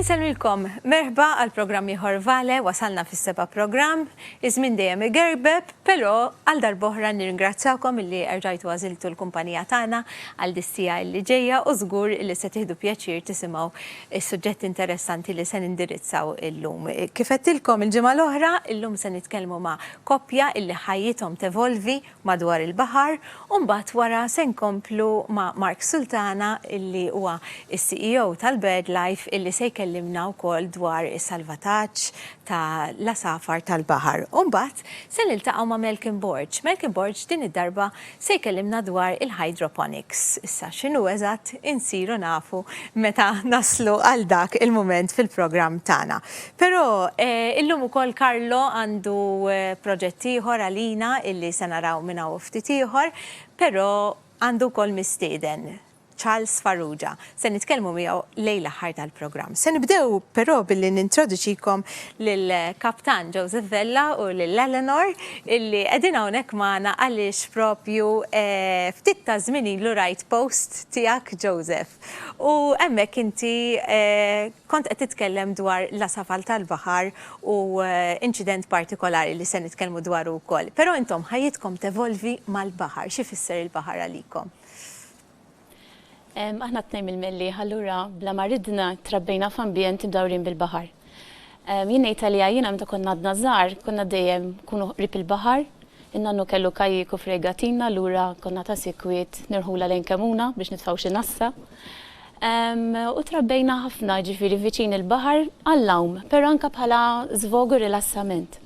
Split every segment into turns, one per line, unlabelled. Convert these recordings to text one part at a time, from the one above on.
Insellmilkom merħba għal programm ieħor Vale wasalna fis-seba' programm, iż-żmien dejjem igerbeb, però għal darb'oħra nirringrazzjakom illi erġajtu għażiltu l-kumpanija tagħna għal dis-siegħa illi ġejja u żgur illi se tieħdu pjaċir tisimgħu s-suġġetti interessanti li se nindirizzaw illum. Kif għedtilkom il-ġimgħa l-oħra, illum se nitkellmu ma' koppja illi ħajjithom tevolvi madwar il-baħar u mbagħad wara se nkomplu ma' Mark Sultana illi huwa s-CEO tal-BirdLife illi se jkellimna wkoll dwar is-salvataġġ ta' l-għasafar tal-baħar u mbagħad se niltaqgħu ma' Malcolm Borg. Malcolm Borg din id-darba se jkellimna dwar il-hydroponics. Issa x'inhu eżatt insiru nafu meta naslu għal dak il-mument fil-programm tagħna. Però, illum ukoll Carlo għandu proġett ieħor għalina illi se naraw minn hawn u ftit ieħor, però għandu wkoll mistieden, Charles Farrugia. Se nitkellmu miegħu lejn l-aħħar tal-programm. Se nibdew però billi nintroduċikom lill-Kaptan Joseph Vella u lil Eleanor illi qegħdin hawnhekk magħna għaliex proprju ftit taż-żmien ilu rajt post tiegħek Joseph u hemmhekk inti Kont qed titkellem dwar l-għasafal tal-baħar u inċident partikolari li se nitkellmu dwaru wkoll. Però intom ħajjitkom tevolvi mal-baħar. X'ifisser il-baħar għalikom?
Aħna t-tnejn mill-Mellieħa allura bla ma ridna trabbejna f'ambjent imdawrin bil-baħar. Jien ngħid għalija jiena meta konna għadna żgħar konna dejjem nkunu qrib il-baħar In-nannu kellu kajjik u fregatina allura konna ta' sikwit nirħulha lejn Kemmuna biex nitfgħu xi nassa. U trabbejna ħafna, jiġifieri viċin il-baħar għall-għawm, però anke bħala żvog u rilassament.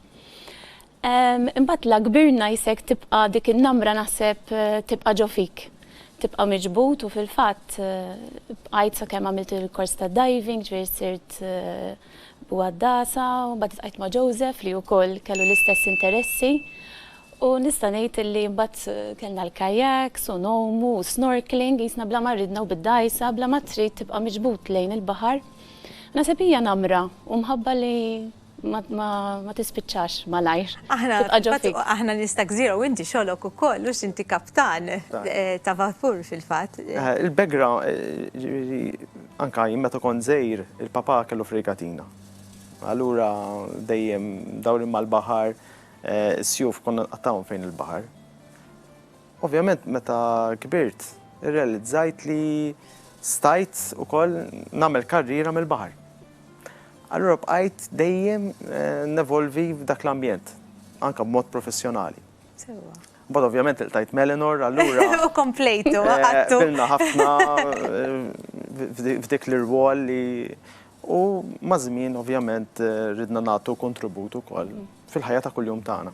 Imbagħad la kbirna jisek tibqa' dik in-namra naħseb tibqa' ġo fik. Tibqa' miġbud u fil-fatt bqajt sakemm għamilt il-kors tad-diving, ġifieri sirt u għad-dagħsa u mbagħad iltqajt ma' Joseph li wkoll kellu l-istess interessi u nista' ngħid illi mbagħad kellna l-kayaks u ngħumu u snorkeling qisna bla ma rridna u bid-dgħajsa bla ma trid tibqa' miġbud lejn il-baħar. Naħseb hija namra u mħabba li ma tispiċċax malajr, tibqa' ġo fik.
Aħna nies ta' gżira u inti xogħlok ukoll hux inti kaptan ta' vapur fil-fatt. Il-background, jiġifieri,
Anke jien meta kont żgħir, il-papà kellu frigatina. Allura dejjem dawrin mal-baħar, is-sjuf konna nqattgħuhom fejn il-baħar. Ovvjament meta kbirt, irrealizzajt li stajt ukoll nagħmel karriera mill-baħar. Allura bqajt dejjem nevolvi f'dak l-ambjent, anke b'mod professjonali. Sewwa. Mbagħad ovvjament iltajt Melinor allura. U komplejtu,
għattu. Eh, bilna ħafna
eh, f'dik l-irwol li u mażmin ovvjament eh, ridna nagħtu kontribut ukoll fil-ħajja ta' kuljum tagħna.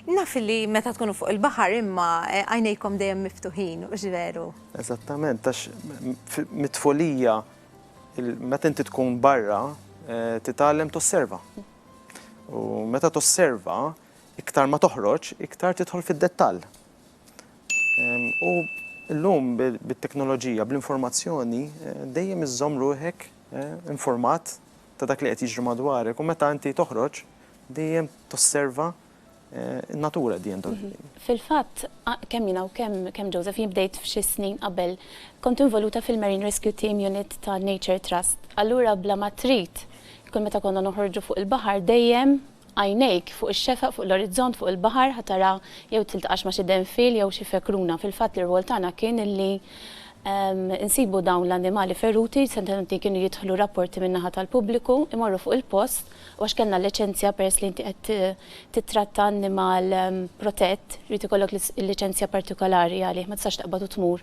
Naf li
meta tkunu fuq il-baħar imma eh, għajnejkom dejjem miftuħin, u ġveru. Eżattament, għax
mitfolija, meta inti tkun barra, eh, titgħallem tosserva. U meta tosserva, Iktar ma toħroġ, iktar tidħol fid-dettall. U llum bit-teknoloġija, bl-informazzjoni, dejjem iżżomm ruħek informat ta' dak li qed jiġri madwarek u meta inti toħroġ dejjem tosserva n-natura at the end of the day. Fil-fatt,
kemm jiena u kemm kemm Joseph, jien bdejt f'xi snin qabel, kont involuta fil-Marine Rescue Team Unit ta' Nature Trust. Allura bla ma trid, kull meta konna noħorġu fuq il-baħar dejjem Għajnejk fuq ix-xefaq fuq l-orizzont fuq il-baħar ħa tara jew tiltaqax ma' xi denfiel jew xi fekruna. Fil-fatt l-irwol tagħna kien illi nsibu dawn l-annimali feruti, setgħu kienu jidħlu rapporti min-naħa tal-pubbliku, imorru fuq il-post u għax kellna l-liċenzja peress li inti qed tittratta annimal protett irid ikollok il-liċenzja partikolari għalih ma tistax taqbad u tmur.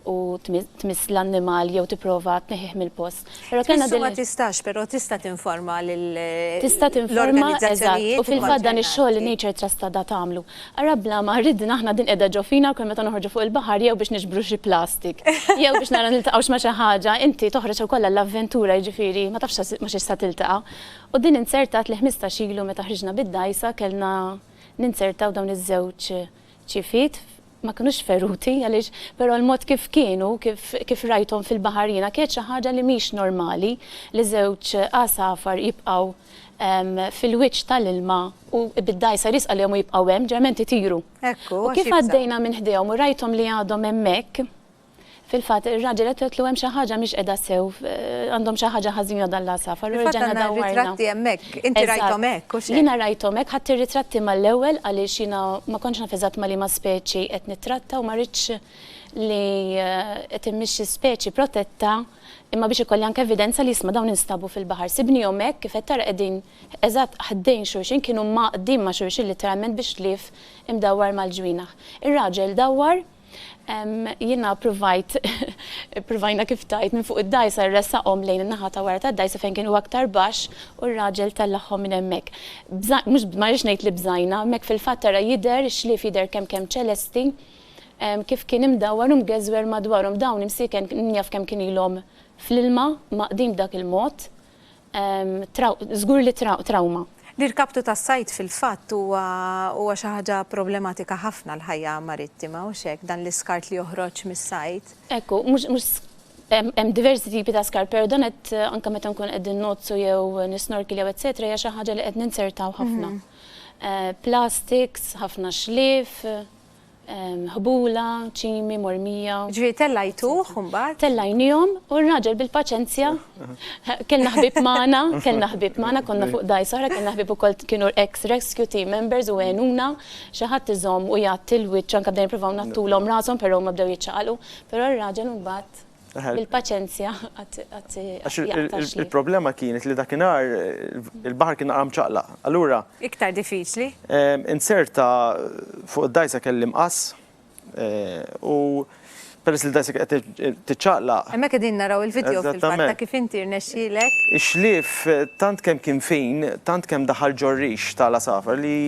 u tmiss l-annimal jew tipprova tneħħih mill-post. Però kellna din. Tmiss ma
tistax, però tista' tinforma lil. Tista' tinforma,
eżatt. U fil-fatt dan ix-xogħol li Nature Trust għadha tagħmlu. Ara bla ma ridna aħna din qiegħda ġo fina wkoll meta noħorġu fuq il-baħar jew biex niġbru xi plastik, jew biex naraw niltaqgħux ma' xi ħaġa, inti toħroġ ukoll għall-avventura jiġifieri ma tafx ma' xiex se tiltaqa'. U din inzertat li ħmistax ilu meta ħriġna bid-dgħajsa kellna ninzertaw dawn iż-żewġ ċifiet ma kinux feruti għaliex però l-mod kif kienu, kif kif rajthom fil-baħar jiena kienet xi ħaġa li mhix normali li żewġ għasafar jibqgħu fil-wiċċ tal-ilma u bid-dgħajsa riżqa lihom u jibqgħu hemm, ġeneralment itiru. U kif għaddejna minn ħdejhom u rajthom li għadhom hemmhekk, Fil-fatt, ir-raġel qed jgħidlu hemm xi ħaġa mhix qiegħda sew, għandhom xi ħaġa ħażina dan l-għasafar. U reġgħna dawwarna.
Ritratti hemmhekk, inti rajthom hekk u x'għedt? Jiena rajthom hekk, ħadt
ir-ritratti mal-ewwel għaliex jiena ma kontx naf eżatt ma' liema speċi qed nittratta u ma ridtx li qed immixxi speċi protetta imma biex ikolli anke evidenza li isma' dawn instabu fil-baħar. Sibnihom hekk, kif qed tara qegħdin eżatt ħdejn xulxin, kienu mgħaqqdin ma' xulxin litteralment bi xlief imdawwar mal-ġwienaħ. Ir-raġel dawwar Jiena ppruvajt, ppruvajna kif tajt, minn fuq id-dgħajsa nressaqhom lejn in-naħa ta' wara tad-dgħajsa fejn kienu aktar baxx u r-raġel tellagħhom minn hemmhekk. Bża, mhux, ma rridx ngħid li bżajna, hemmhekk fil-fatt tara jidher, ix-xlief jidher kemm kemm ċelesti, kif kien imdawwar u mgeżwer madwarhom. Dawn imsieken min jaf kemm kien ilhom fl-ilma, maqdin b'dak il-mod. Żgur li trawma. L-irkaptu tas-sajd
fil-fatt huwa xi ħaġa problematika ħafna għall-ħajja marittima, hux hekk, dan l-iskart li joħroġ mis-sajd? Ekku, mhux
hemm diversi tipi ta' skart, però dan qed anke meta nkunu qegħdin ngħoddsu jew nisnorkil jew etsetera hija xi ħaġa li qed ninzertaw ħafna. Plastiks, ħafna xlief. ħbula, ċimi, mormija. Jiġifieri tellajtuh
u mbagħad? Tellajniehom u
r-raġel bil-paċenzja, kellna ħbieb magħna, kellna ħbieb magħna, konna fuq dgħajsa oħra, kellna ħbieb ukoll kienu ex rescue team members u għenuna, xi ħadd iżomm u jgħatti l-wiċċ anke bdejna nippruvaw ngħattulhom rashom però huma bdew jiċċaqalqu, però r-raġel imbagħad. Bil-paċenzja qatt jaqta' xli.
Il-problema kienet li dakinhar il-baħar kien naqra mċaqlaq. Allura. Iktar diffiċli.
Inzerta
fuq id-dgħajsa kelli mqass u peress li d-dgħajsa kienet qed tiċċaqlaq. Hemmhekk qegħdin naraw
il-vidjow fil-fatt ta' kif inti rnexxielek. Ix-xlief
tant kemm kien fin, tant kemm daħal ġo rix tal-għasafar li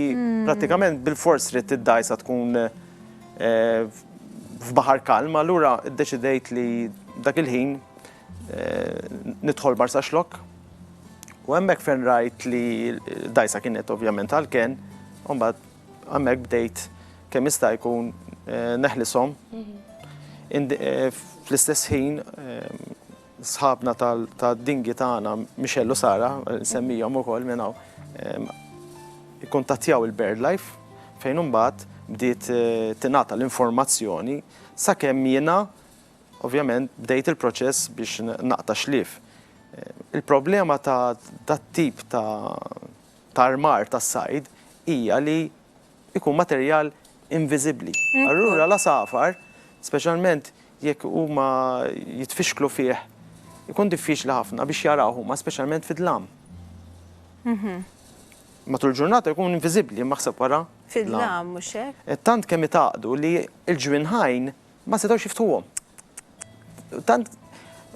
prattikament bilfors ridt id-dgħajsa tkun. f'baħar kalm, allura ddeċidejt li dak il-ħin nidħol Marsaxlokk u hemmhekk fejn rajt li dgħajsa kienet ovvjament għall-kenn, u mbagħad hemmhekk bdejt kemm jista' jkun neħlishom fl-istess ħin Sħabna tad-dingi tagħna, Michelle u Sara, insemmihom ukoll minn hawn, ikkuntattjaw il-BirdLife fejn imbagħad bdiet tingħata l-informazzjoni sakemm jiena ovvjament bdejt il-proċess biex naqta' xlief. Il-problema ta' dat-tip ta' armar tas-sajd hija li ikun materjal inviżibbli. Allura l-għasafar, speċjalment jekk huma jitfixklu fih, ikun diffiċli ħafna biex jarawh huma speċjalment fid-dlam. Matul ġurnata jkun inviżibbli maħseb wara. Fid-dlam mhux
hekk? Tant kemm itaqdu
li l-ġwinħajn Ma setgħux jiftħuhom. Tant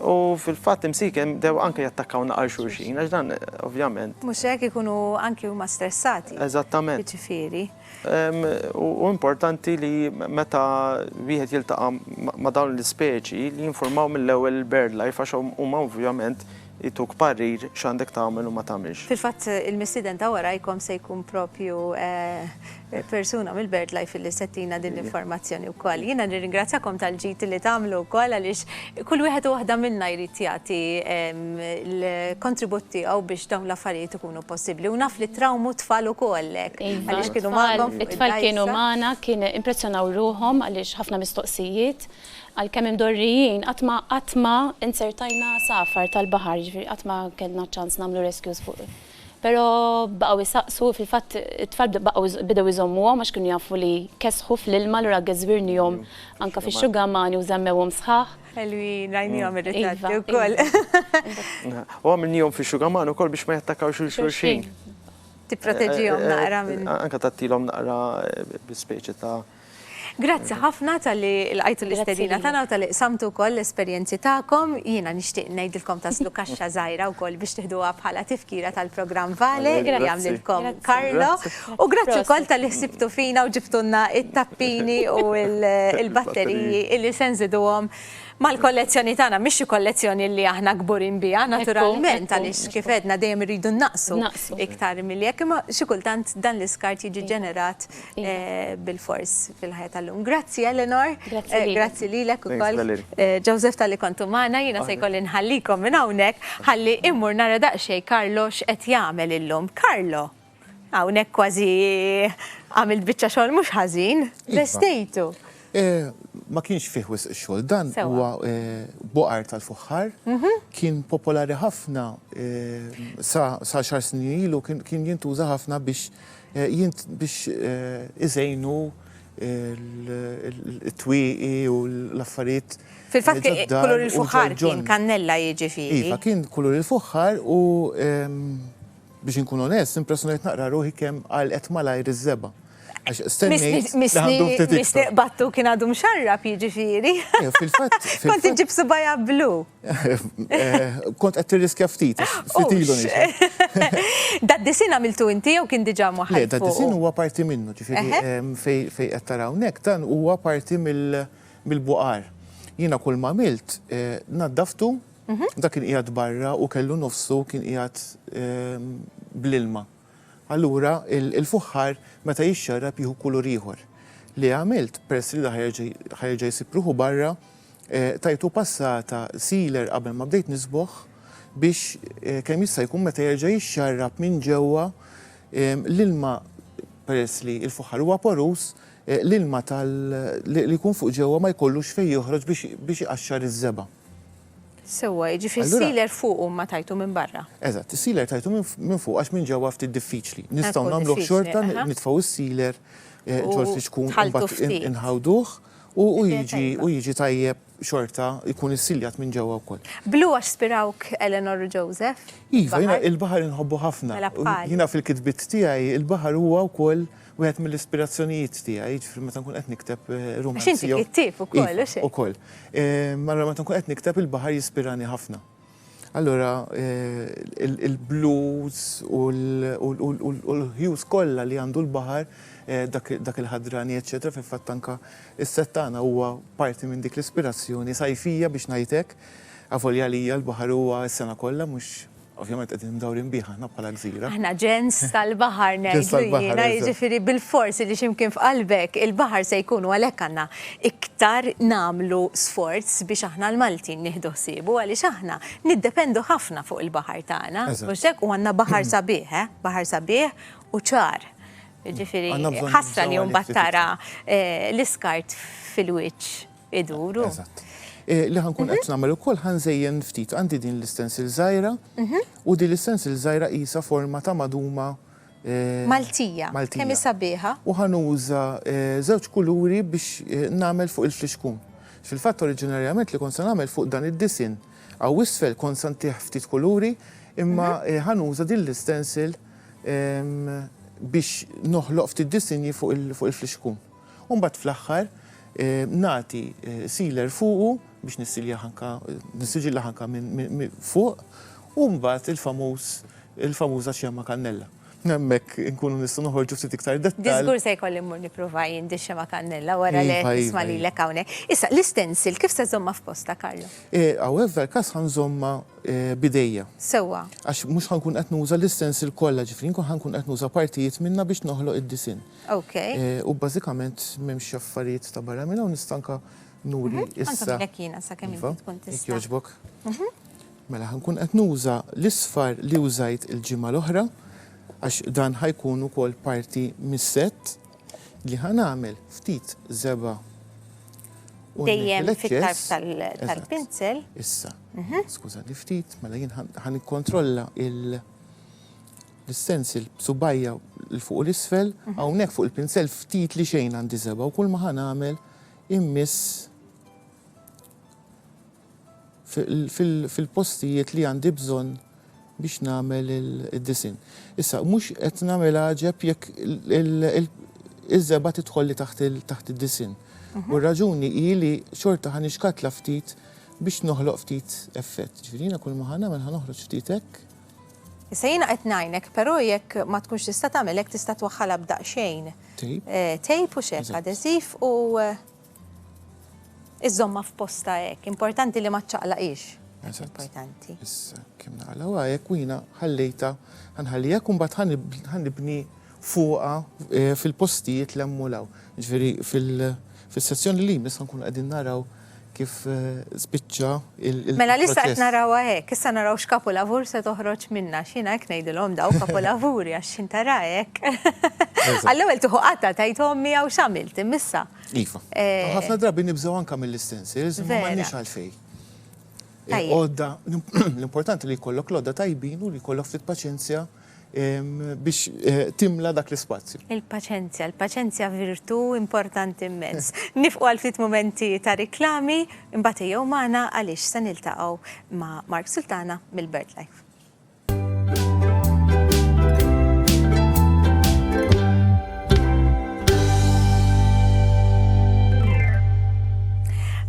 U fil-fatt imsiken dew anke jattakkaw naqal xulxin, għax dan ovvjament. Mhux hekk ikunu
anke huma stressati. Eżattament. Jiġifieri.
U importanti li meta wieħed jiltaqa' ma' dawn l-ispeċi li jinformaw mill-ewwel il-BirdLife għax huma ovvjament jtuk parir x'għandek tagħmel u ma tagħmilx. Fil-fatt il-mistieden
ta' warajkom se jkun propju persuna mill-BirdLife illi se ttina din l-informazzjoni wkoll. Jiena nirringrazzjakom tal-ġid li tagħmlu wkoll għaliex kull wieħed u waħda minnha jrid jagħti l-kontribut tiegħu biex dawn l-affarijiet ikunu possibbli u naf li trawmu t-tfal ukoll hekk għaliex kienu magħkom fuq id-dgħajsa. It-tfal kienu magħna,
kien impressjonaw ruħhom għaliex ħafna mistoqsijiet. Għalkemm imdorrijin, qatt ma, qatt ma inzertajna għasafar tal-baħar, jiġifieri qatt ma kellna ċ-ċans nagħmlu rescues fuq. Però baqgħu jsaqsu, fil-fatt it-tfal bdew baqgħu bidew iżommuhom għax kienu jafu li jkessħu fl-ilma allura Agge żwirnihom anke fix-xugamani u żammewhom sħaħ. Ħelwin, rajnihom
ir-ritratti wkoll.
U għamilnihom fix-xugaman ukoll biex ma jattakawx lil xulxin.
Tipproteġihom naqra minn. Anke tagħtilhom naqra
bi speċi ta'. Grazzi
ħafna talli lqajtu l-istedina tagħna u talli qsamtu wkoll l-esperjenzi tagħkom. Jiena nixtieq ngħidilkom taslu kaxxa żgħira wkoll biex tiħduha bħala tifkira tal-programm Vale li għamlilkom Carlo. U grazzi wkoll talli ħsibtu fina u ġibtulna t-tappini u l-batteriji li se nżiduhom mal-kollezzjoni tagħna. Mhix xi kollezzjoni li aħna kburin biha naturalment għaliex kif għedna dejjem irridu nnaqqsu iktar milli hekk, imma xi kultant dan l-iskart jiġi ġenerat bil-fors fil-ħajja tal-lum. Grazzi Eleanor. Grazzi lilek. Grazzi lilek ukoll. Joseph tal-li kontu magħna, jiena se jkolli nħallikom minn hawnhekk ħalli immur nara daqsxejn Carlo x'qed jagħmel illum. Carlo, hawnhekk kważi għamilt biċċa xogħol mhux ħażin, vestejtu. Ma
kienx fih wisq xogħol, dan huwa boqar tal-fuħħar, kien popolari ħafna sa xahar snin ilu, kien jintuża ħafna biex Jint biex iżejnu l-twieqi u l-affarijiet. Fil-fatt kien
kulur il-fuħħar
kien kannella jiġifieri.
Iva, kien kulur
il-fuħħar u biex inkun onest, impressjonajt naqra ruħi kemm għalqet malajr iż-żebgħa.
Mistiqbattu kien għadu mxarrab jiġifieri. Kont
iġib subajja
blu.
Kont qed tirriskja ftit, ftit ilu
Dad-disin għamiltu inti jew kien diġà moħħi? Le, dad-disin huwa parti
minnu, ġifieri fejn qed taraw hawnhekk dan huwa parti mill-buqar. Jiena kull ma għamilt naddaftu, dak kien qiegħed barra u kellu nofsu kien qiegħed bl-ilma. Allura l-fuħħar meta jixxarrab jieħu kulur ieħor. Li għamilt, peress li ħa jerġa' jsib ruħu barra, Tajtu passata sealer qabel ma bdejt nisboħ biex kemm jista' jkun meta jerġa' jixxarrab minn ġewwa l-ilma peress li l-fuħħar huwa porus, l-ilma tal li jkun fuq ġewwa ma jkollux fejn joħroġ biex biex iqaxxar iż-żebgħa. Sewwa,
jiġifieri s-sealer fuq u ma tajtu minn barra. Eżatt, is-sealer tajtu
minn fuq għax minn ġewwa ftit diffiċli. Nistgħu nagħmluh xorta, nitfgħu s-sealer ġol-fiċkun u mbagħad inħawduh U jiġi u jiġi tajjeb xorta jkun issiljat minn ġewwa wkoll. Blu għax spirawk
Eleanor u Joseph? Iva, jiena il-baħar
inħobbu ħafna. Mela bħali. Jiena fil-kitbiet tiegħi il-baħar huwa wkoll wieħed mill-ispirazzjonijiet tiegħi, jiġifieri meta nkun qed nikteb rumanzi. Għax inti kittieb ukoll,
u x'hekk? Iva, ukoll.
Mara meta nkun qed nikteb il-baħar jispirani ħafna. Allura il-blues u l-hues kollha li għandu l-baħar, dak il-ħadrani eċċetera, fil-fatt anke s-set tagħna huwa parti minn dik l-ispirazzjoni sajfija biex ngħid hekk, avolja għalija l-baħar huwa s-sena kollha mhux ovvjament qegħdin mdawrin bih aħna bħala gżira. Aħna ġens
tal-baħar ngħidlu jiena, jiġifieri bilfors li xi mkien f'qalbek il-baħar se jkun u għalhekk għandna iktar nagħmlu sforz biex aħna l-Maltin nieħdu ħsiebu għaliex aħna niddependu ħafna fuq il-baħar tagħna, mhux hekk? U għandna baħar sabiħ, eh? Baħar sabiħ u ċar. Jiġifieri ħasra li mbagħad tara eh, l-iskart fil-wiċċ iduru. Eżatt. Eh, li
ħankun qed mhm. nagħmel ukoll ħanżejjen ftit għandi din l-istensil żgħira mhm. u din l-istensil żgħira qisha forma ta' maduma Maltija.
Kemm hi sabiħa. U ħanuża
żewġ kuluri biex nagħmel fuq il-flixkun. Fil-fatt oriġinarjament li kont se nagħmel fuq dan id-disinn hawn isfel kont se ntih ftit kuluri imma ħanuża din l-istencil biex noħloq ftit disinji fuq il-flixkun. U mbagħad fl-aħħar nagħti sealer fuqu biex nissiljah anke, nissiġillah anke minn fuq u mbagħad il-famuż, il-famuża xemgħa kannella. Hemmhekk inkunu nistgħu noħorġu ftit iktar dettall. Diżgur se jkolli mmur
nipprova jien dix-xemgħa kannella wara li qed nisma' lilek hawnhekk. Issa, l-istensil kif se żżommha f'postha Carlo? Hawnhekk f'dan il-każ
ħa nżommha b'idejja. Sewwa. Għax
mhux ħa nkun qed
nuża l-istensil kollha, ġifieri nkun ħa nkun qed nuża partijiet minnha biex noħloq id-disinn. Okay. Eh, u
bażikament
m'hemmx affarijiet ta' barra minn hawn nista' anka nuri mhm. issa. Għandek jiena sa kemm inti iva,
tkun tista'. Jogħġbok. Mhm.
Mela ħankun qed nuża l-isfar li użajt il-ġimgħa l-oħra għax dan ħajkun ukoll parti mis-set li ħanamel ftit zeba
dejjem fit-tarf tal-pinsel. Issa,
mhm. skużani ftit, mela jien ħan kontrolla il- L-istensil b'subgħajja 'l fuq u 'l isfel, hawnhekk fuq il-pinsell ftit li xejn għandi seba' u kulma ħa nagħmel immiss fil-postijiet li għandi bżonn biex nagħmel id-disinn. Issa, mhux qed nagħmel għaġeb jekk iż-żebgħa tidħolli taħt id-disinn. U r-raġuni hi li xorta ħa nixkatla ftit biex noħloq ftit effett. Ġifieri jiena kulma ħa nagħmel ħa noħroġ ftit hekk. Issa jiena
qed ngħinek, però jekk ma tkunx tista' tagħmel hekk tista' twaħħalha b'daqsxejn tejp u x'hekk adeżiv u iżżommha f'postha hekk. Importanti li ma ċċaqlaqhiex. Importanti. Issa kemm
naqlgħuha hekk u jiena ħallejtha ħanħalliha hekk u mbagħad ħa nibni fuqha fil-postijiet 'l hemm u 'l hawn. Jiġifieri fil-sezzjoni li jmiss ħa nkunu qegħdin naraw kif spiċċa l-proċess. Mela l-issa qed narawha
hekk, issa naraw x'kapulavur se toħroġ minnha għax jiena hekk ngħidilhom daw kapulavuri għax x'in tara hekk. Għall-ewwel tieħu qatta' tgħid ommi hawn x'għamilt imma issa. Iva.
Ħafna drabi nibżgħu anke mill-istencils imma m'għandniex għalfejn. Għodda, l-importanti li jkollok l-għodda tajbin u li jkollok ftit paċenzja. biex timla dak l-ispazju. Il-paċenzja, il-paċenzja
virtu importanti immens. Nifqu għal ftit momenti ta' riklami, imbagħad jew magħna għaliex se niltaqgħu ma' Mark Sultana mill-BirdLife.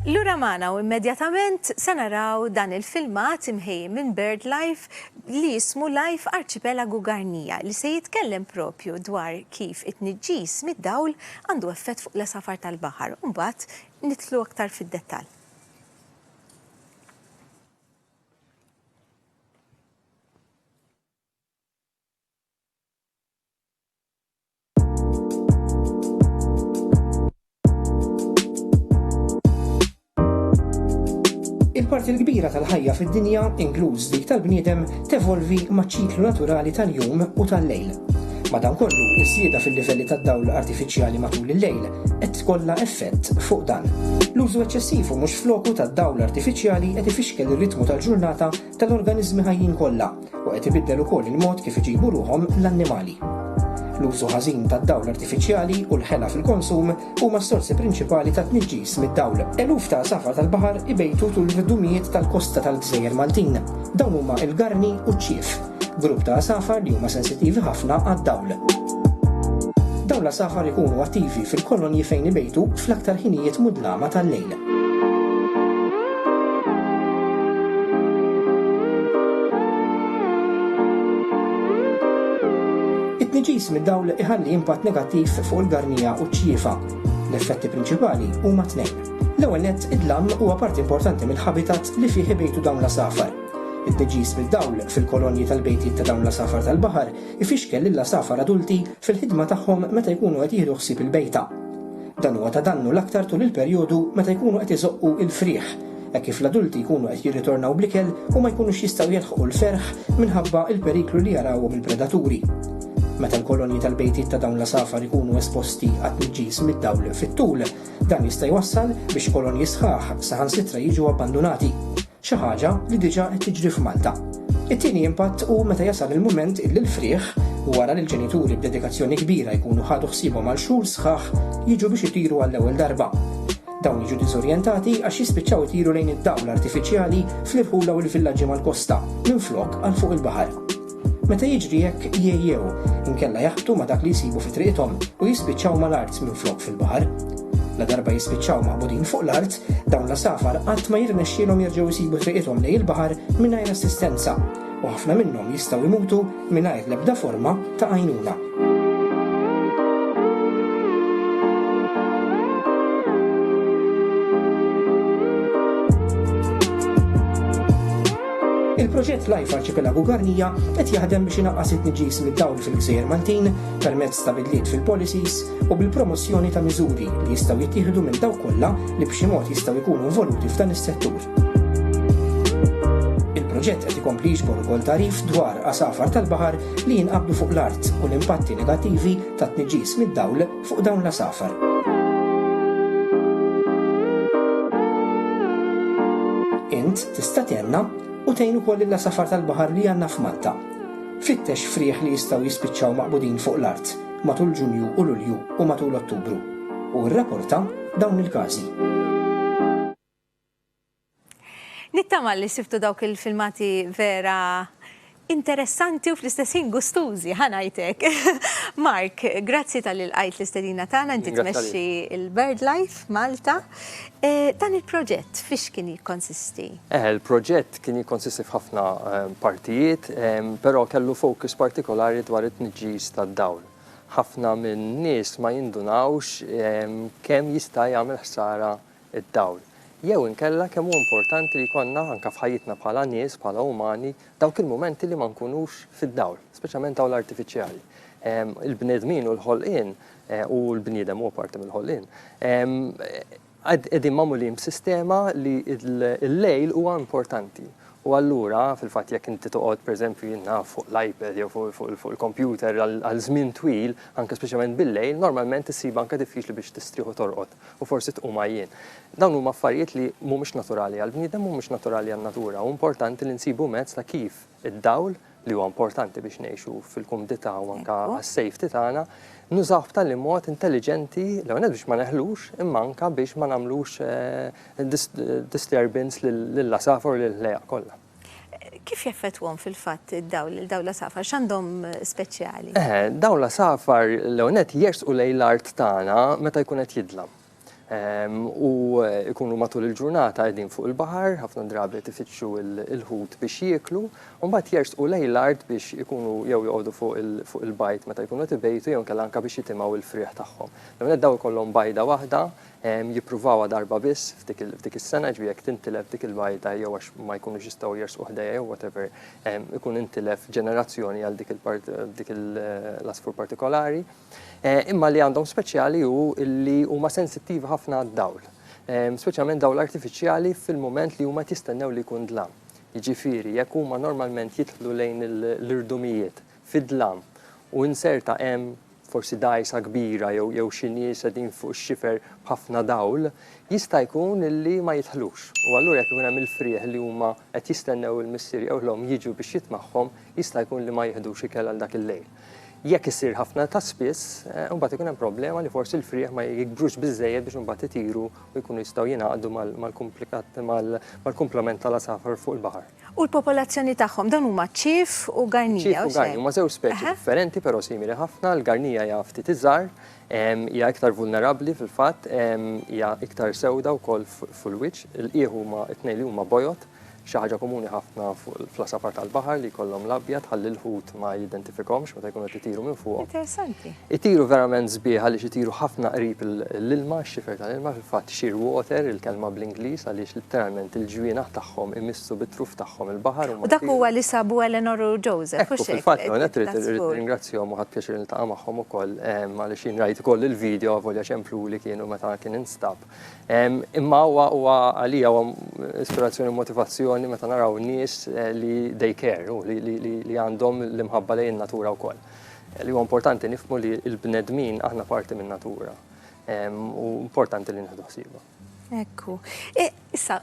Lura magħna u immedjatament se naraw dan il-filmat imħejji minn BirdLife li jismu Life Arcipelago Garnija li se jitkellem propju dwar kif it-tniġġis mid-dawl għandu effett fuq l-għesafar tal-baħar u mbagħad nidħlu aktar fid-dettall.
Il-parti l-kbira tal-ħajja fid-dinja, inkluż dik tal-bniedem, tevolvi maċ-ċiklu naturali tal-jum u tal-lejl. Madankollu, iż-żieda fil-livelli tad-dawl artifiċjali matul il-lejl qed tkollha effett fuq dan. L-użu eċċessiv u mhux f'loku tad-dawl artifiċjali qed ifixkel ir-ritmu tal-ġurnata tal-organiżmi ħajjin kollha u qed ibiddel ukoll il-mod kif iġibu ruħhom l-annimali. L-użu ħażin tad-dawl artifiċjali u l-ħela fil-konsum huma s-sorsi prinċipali ta' tniġġis mid-dawl. Eluf ta' għasafar tal-baħar ibejtu tul l-irdumijiet tal-kosta tal-gżejjer Maltin. Dawn huma l-garni u ċ-ċief, grupp ta' għasafar li huma sensittivi ħafna għad-dawl. Dawn l-għasafar ikunu attivi fil-kolonji fejn ibejtu fl-aktar ħinijiet mudlama tal-lejl. It-tniġġis mid-dawl iħalli impatt negattiv fuq il-garnija u ċ-ċjifa. L-effetti prinċipali huma tnejn. L-ewwel nett, id-dlam huwa parti importanti mill-habitat li fih ibejtu dawn l-għasafar. It-tniġġis mid-dawl fil-kolonji tal-bejtiet ta' dawn l-għasafar tal-baħar ifixkel lill-għasafar adulti fil-ħidma tagħhom meta jkunu qed jieħdu ħsieb il-bejta. Dan huwa ta' dannu l-aktar tul il-perjodu meta jkunu qed iżoqqu l-frieħ, hekk kif l-adulti jkunu qed jirritornaw bl-ikel u ma jkunux jistgħu jilħqu l-ferħ minħabba l-periklu li jarawhom il-predaturi. Meta l-kolonji tal-bejtiet ta' dawn l-għasafar ikunu esposti għat-tniġġis mid-dawl fit-tul, dan jista' jwassal biex kolonji sħaħ saħansitra jiġu abbandunati. Xi ħaġa li diġà qed tiġri f'Malta. It-tieni impatt hu meta jasal il-mument illi l-frieħ, wara li l-ġenituri b'dedikazzjoni kbira jkunu ħadu ħsiebhom għal xhur sħaħ, jiġu biex itiru għall-ewwel darba. Dawn jiġu diżorjentati għax jispiċċaw itiru lejn id-dawl artifiċjali fl-irħula u l-villaġġi mal-kosta, minflok għal fuq il-baħar. Meta jiġri hekk jgħejjew, inkella jaħbtu ma' dak li jsibu fi triqithom u jispiċċaw mal-art minflok fil-baħar. Ladarba jispiċċaw maqbudin fuq l-art, dawn l-għasafar qatt ma jirnexxielhom jerġgħu jsibu triqithom lejn il-baħar mingħajr assistenza, u ħafna minnhom jistgħu jmutu mingħajr l-ebda forma ta' għajnuna. Il-proġett Life Arċipelagu Garnija qed jaħdem biex inaqqas it-tniġis mid-dawl fil-gżejjer Maltin permezz ta' bidliet fil-policies u bil-promozzjoni ta' miżuri li jistgħu jittieħdu minn dawk kollha li b'xi mod jistgħu jkunu involuti f'dan is-settur. Il-proġett qed ikompli jiġbor ukoll tarif dwar għasafar tal-baħar li jinqabdu fuq l-art u l-impatti negattivi tat-tniġġis mid-dawl fuq dawn l-għasafar. Int tista' tgħinna u tgħin ukoll lill-għasafar tal-baħar li għandna f'Malta. Fittex frieħ li jistgħu jispiċċaw maqbudin fuq l-art matul Ġunju u Lulju u matul Ottubru, u rrapporta dawn il-każi.
Nittama li sibtu dawk il-filmati vera interessanti u fl-istess ħin gustużi, ħa ngħid hekk. Mark, grazzi talli lqajt l-istedina tagħna, inti tmexxi l-BirdLife Malta. Dan il-proġett fiex kien jikkonsisti? Il-proġett
kien jikkonsisti f'ħafna partijiet, però kellu fokus partikolari dwar it-tniġġis tad-dawl. Ħafna min-nies ma jindunawx kemm jista' jagħmel ħsara id-dawl, jew inkella kemm hu importanti li jkollna anke f'ħajjitna bħala nies, bħala umani, dawk il-mumenti li ma nkunux fid-dawl, speċjalment dawl artifiċjali. Il-bnedmin u l-ħolqien, u l-bniedem huwa parti mill-ħolqien, qegħdin magħmulin b'sistema li l-lejl huwa importanti. U allura, fil-fatt, jekk inti toqgħod, pereżempju, jien naf, fuq l-iPad jew fuq il-kompjuter għal żmien twil, anke speċjalment bil-lejl, normalment issibha anke diffiċli biex tistrieħ u torqod. u forsi tqum għajjien. Dawn huma affarijiet li mhumiex naturali għall-bniedem, mhumiex naturali għan-natura u importanti li nsibu mezz ta' kif id-dawl, li huwa importanti biex ngħixu fil-kumdità u anke għas-safety tagħna, nużawh b'tali mod intelliġenti, l-ewwel nett biex ma neħlux imma anke biex ma nagħmlux disturbance lill-għasafar u lill-ħlejjaq kollha. Kif
jeffettwhom fil-fatt id-dawl, il-dawl l-għasafar? X'għandhom speċjali? Eħe, dawl
l-għasafar l-ewwel nett jersqu lejn l-art tagħna meta jkun qed jidlam. Ehm, u jkunu matul il-ġurnata qegħdin fuq il-baħar, ħafna drabi tifittxu il-ħut biex jieklu, u mbagħad jersqu lejn l-art biex ikunu jew joqogħdu fuq il-bajt meta jkunu qed ibejtu jew inkella anke biex jitimgħu l-frieħ tagħhom. L-ewwel nett dawl ikollhom bajda waħda, Jippruvawha darba biss f'dik is-sena, jiġifieri jekk tintilef dik il-bajda jew għax ma jkunux jistgħu jersqu ħdejja jew whatever, ikun intilef ġenerazzjoni għal dik l-għasfur partikolari. Imma li għandhom speċjali hu li huma sensittivi ħafna għad-dawl, speċjalment dawl artifiċjali fil-mument li huma qed jistennew li jkun dlam. Jiġifieri jekk huma normalment jidħlu lejn l-irdumijiet fid-dlam u inserta hemm, forsi dgħajsa kbira jew jew xi nies qegħdin fuq ix-xifer b'ħafna dawl, jista' jkun illi ma jidħlux. U allura jekk ikun hemm il-frieħ li huma qed jistennew il-missier jew l-omm jiġu biex jitmagħhom, jista' jkun li ma jiħdux ikel għal dak il-lejl. Jekk isir ħafna ta' spiss, imbagħad ikun hemm problema li forsi l-frieħ ma jikbrux biżżejjed biex imbagħad itiru u jkunu jistgħu jingħaqdu mal-kumplikat mal-kumplament tal-għasafar fuq il-baħar. U l-popolazzjoni
tagħhom, dawn huma ċ-ċief u garnija, hekk? Ċief u garnija, huma żewġ speċi
differenti però simili ħafna, l-garnija hija ftit iżgħar, hija iktar vulnerabbli fil-fatt, hija iktar sewda wkoll fuq il-wiċċ, il-qiegħ huma t-tnejn li huma bojod, xi ħaġa komuni ħafna fl-għasafar tal-baħar li jkollhom l-abjad ħalli l-ħut ma jiddentifikahomx meta jkunu qed itiru minn fuqhom. Interessanti. Itiru
verament
sbieħ għaliex itiru ħafna qrib l-ilma, x-xifer tal-ilma, fil-fatt shearwater il-kelma bl-Ingliż għaliex litteralment il-ġwienaħ tagħhom imissu bit-truf tagħhom il-baħar huma. U dak huwa li sabu
Eleanor u Joseph, hux hekk? Ekku, fil-fatt l-ewwel nett
irrid nirringrazzjahom u ħadt pjaċir niltaqa' magħhom ukoll għaliex jien rajt ukoll il-video avolja ċempluli kienu meta kien instab. Imma huwa huwa għalija huwa ispirazzjoni u motivazzjoni meta naraw nies li they care u li għandhom l-imħabba lejn in-natura wkoll. Li huwa importanti nifhmu li l-bnedmin aħna parti min-natura u importanti li nieħdu ħsiebha. Ekku.
E, issa,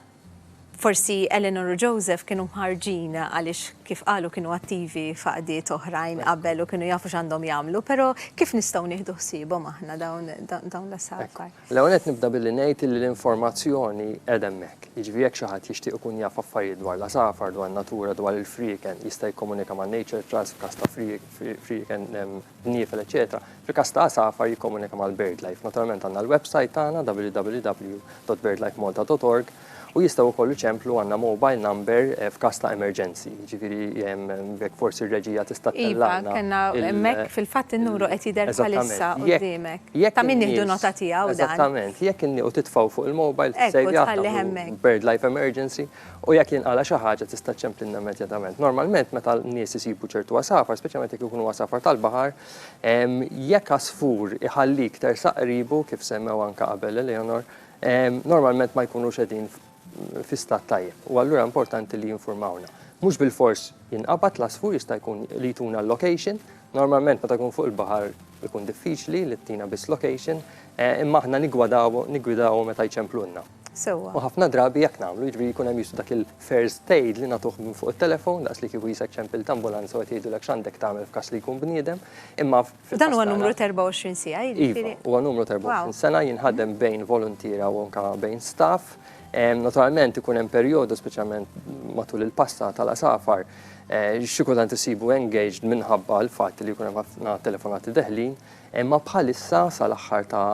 forsi Eleanor u Joseph kienu mħarġin għaliex kif qalu kienu attivi faqdiet oħrajn qabel u kienu jafu x'għandhom jagħmlu, però kif nistgħu nieħdu ħsiebhom aħna dawn l-asafar? L-ewwel nett nibda billi
ngħid illi l-informazzjoni qiegħda hemmhekk. Jiġifieri jekk xi ħadd jixtieq ikun jaf affarijiet dwar l-għasafar, dwar natura, dwar il-frieken, jista' jikkomunika ma' Nature Trust f'każ ta' frieken, bniefel, eċċetera Fil-każ ta' għasafar jikkomunika mal-BirdLife. Naturalment għandna l-websajt tagħna www.birdlifemalta.org U jistgħu wkoll iċemplu għandna mobile number f'każ ta' emerġenzi. Jiġifieri jekk forsi r-reġija tista' tellagħna. Kellna hemmhekk
fil-fatt in-numru qed jidher bħalissa quddiemek. Ta' min nieħdu nota tiegħu dan. Eżattament. Jekk in-nies u
titfgħu fuq il-mobile tissejjaħ tagħmlu hemmhekk bird life emergency u jekk jinqala' xi ħaġa tista' ċċemplilna immedjatament. Normalment meta n-nies isibu ċertu għasafar, speċjalment jekk ikunu għasafar tal-baħar, jekk għasfur iħallik tersaq qribu kif semmew anke qabel Eleanor, normalment ma jkunux qegħdin fi stat tajjeb u allura importanti li jinfurmawna. Mhux bilfors jinqabad l-għasfur jista' jkun li jtuna l-location, normalment meta jkun fuq il-baħar ikun diffiċli li ttina biss location, imma aħna niggwadaw niggwidaw meta jċemplulna. Sewwa. U ħafna drabi hekk nagħmlu, jiġri jkun hemm jisu dak il-first aid li nagħtuh minn fuq it-telefon daqs li kieku jisek ċempilt ambulanza u qed jgħidulek x'għandek tagħmel f'każ li jkun bniedem, imma Dan huwa numru 24
sija, iva, jiġifieri. Huwa numru 24
sena jinħadem bejn voluntiera u anka bejn staff. Naturalment ikun hemm perjodu speċjalment matul il-pasta tal-asafar eh, xi kultant isibu engaged minħabba l-fatt li jkun hemm ħafna telefonati deħlin, imma bħalissa sal-aħħar ta'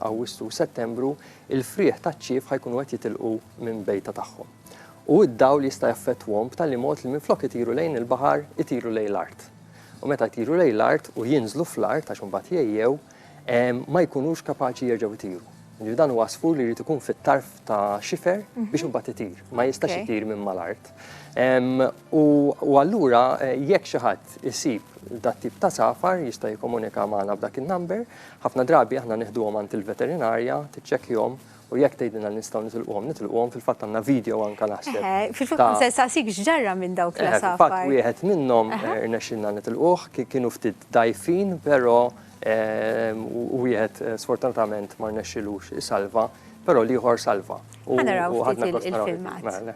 Awwissu u Settembru il-frieħ taċ-ċief ħajkunu qed jitilqu minn bejta tagħhom. U d-dawl jista' jaffettwhom b'tali mod li minflok itiru lejn il-baħar itiru lejn l-art. u meta jtiru lejn l-art u jinżlu fl-art għax imbagħad jgħejjew, ma jkunux kapaċi jerġgħu jtiru. Jiġifieri dan huwa għasfur li jrid ikun fit-tarf ta' xifer biex imbagħad itir, ma jistax itir minn mal-art. U allura jekk xi ħadd isib dat-tip ta' safar jista' jikkomunika magħna b'dak in-number, ħafna drabi aħna nieħduhom għand il-veterinarja tiċċekkjhom U jekk tgħidilna li nistgħu nitilquhom, nitilquhom fil-fatt għandna video anke naħseb. Eh, Fil-fatt ta- se saqsik
x'ġarra minn dawk Eh, Fil-fatt l-asafar. wieħed minnhom
eh, irnexxilna nitilquh, ki- kienu ftit dgħajfin, però eh, u- u wieħed eh, sfortunatament ma rnexxilux isalva, però l-ieħor salva. U- Ħa naraw u ftit ħadna il-
gost naraw il-filmat. il-filmat. Mela,